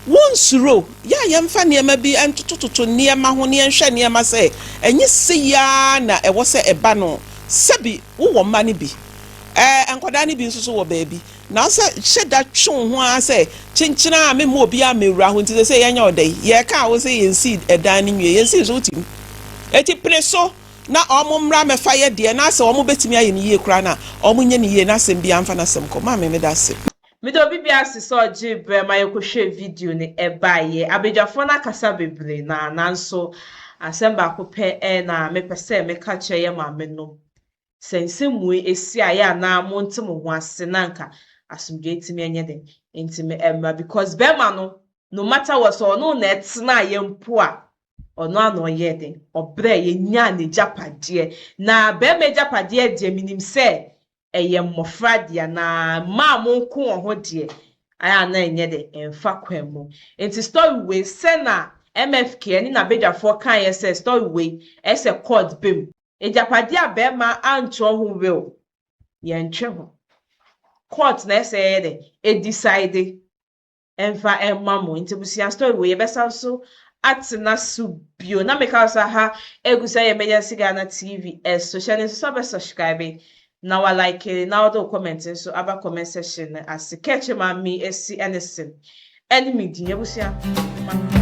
Wonsuro, yɛ a yɛmfa nneɛma bi ntotototo nneɛma ho na yɛnhwɛ nneɛma sɛ ɛnyɛ sei ara na ɛwɔ sɛ ɛba no. Sɛbi wowɔ mma no bi. Ɛɛ, nkwadaa no bi nso so wɔ baabi. Na wo sɛ hyɛ da twe wo ho ara sɛ, Kyenkyen a memma obiara mmɛwura hɔ nti seesei yɛnyɛ ɔda yi. Yɛreka a wo se yɛnsii dan no nwie. Yɛnsii nso wotim. Enti pene so na wɔmmra mmɛfa yɛ deɛ na sɛ wɔbɛtumi ayɛ no yie koraa no a, wɔnyɛ no yie na asɛm biara mfa n'asɛm kɔ. Maame, meda ase. Mede obi bi ase sɛ ɔgyee berɛ ma yɛkɔhwɛɛ video no, ɛbaeɛ. Abadwafoɔ no akasa bebree, na nanso asɛm baako pɛ na mepɛ sɛ meka kyerɛ yɛn maamenom, Sɛ nsɛmmue si a, yɛ a na monte mo ho ase na anka asomdwoeɛ atumi anyɛ dɛn? Ntumi amma because barima no, no matter what, sɛ ɔne wo na ɛtenaeɛ mpo a, ɔno ara na ɔyɛɛ dɛn? Ɔbrɛɛ, yɛnyaa n'agyapadeɛ. Na barima agyapadeɛ deɛ, menim sɛ ɛyɛ mmɔfra dea na mmaa mo nko wɔ ho deɛ ayɛ a na ɛnyɛ dɛ ɛmfa kwan mu nti story wei sɛ na MFK ɛne nabadwafoɔ kaeɛ sɛ story wei ɛsɛ court ba mu. Agyapadeɛ a barima antwerɛ ho will yɛntwe ho court na ɛsɛ ɛyɛ dɛ ɛdecide. mfa mma mo nti busua story wei yɛbɛsan so atena so bio na meka wo sɛ aha egu sɛ yɛ emergency ghana tv ɛso hyɛ ne nso sɛ bɛ subscribe na wa like na wode wo comment nso aba comment section no ase kɛkye ma me esi ɛne sen ɛne me din abusua ma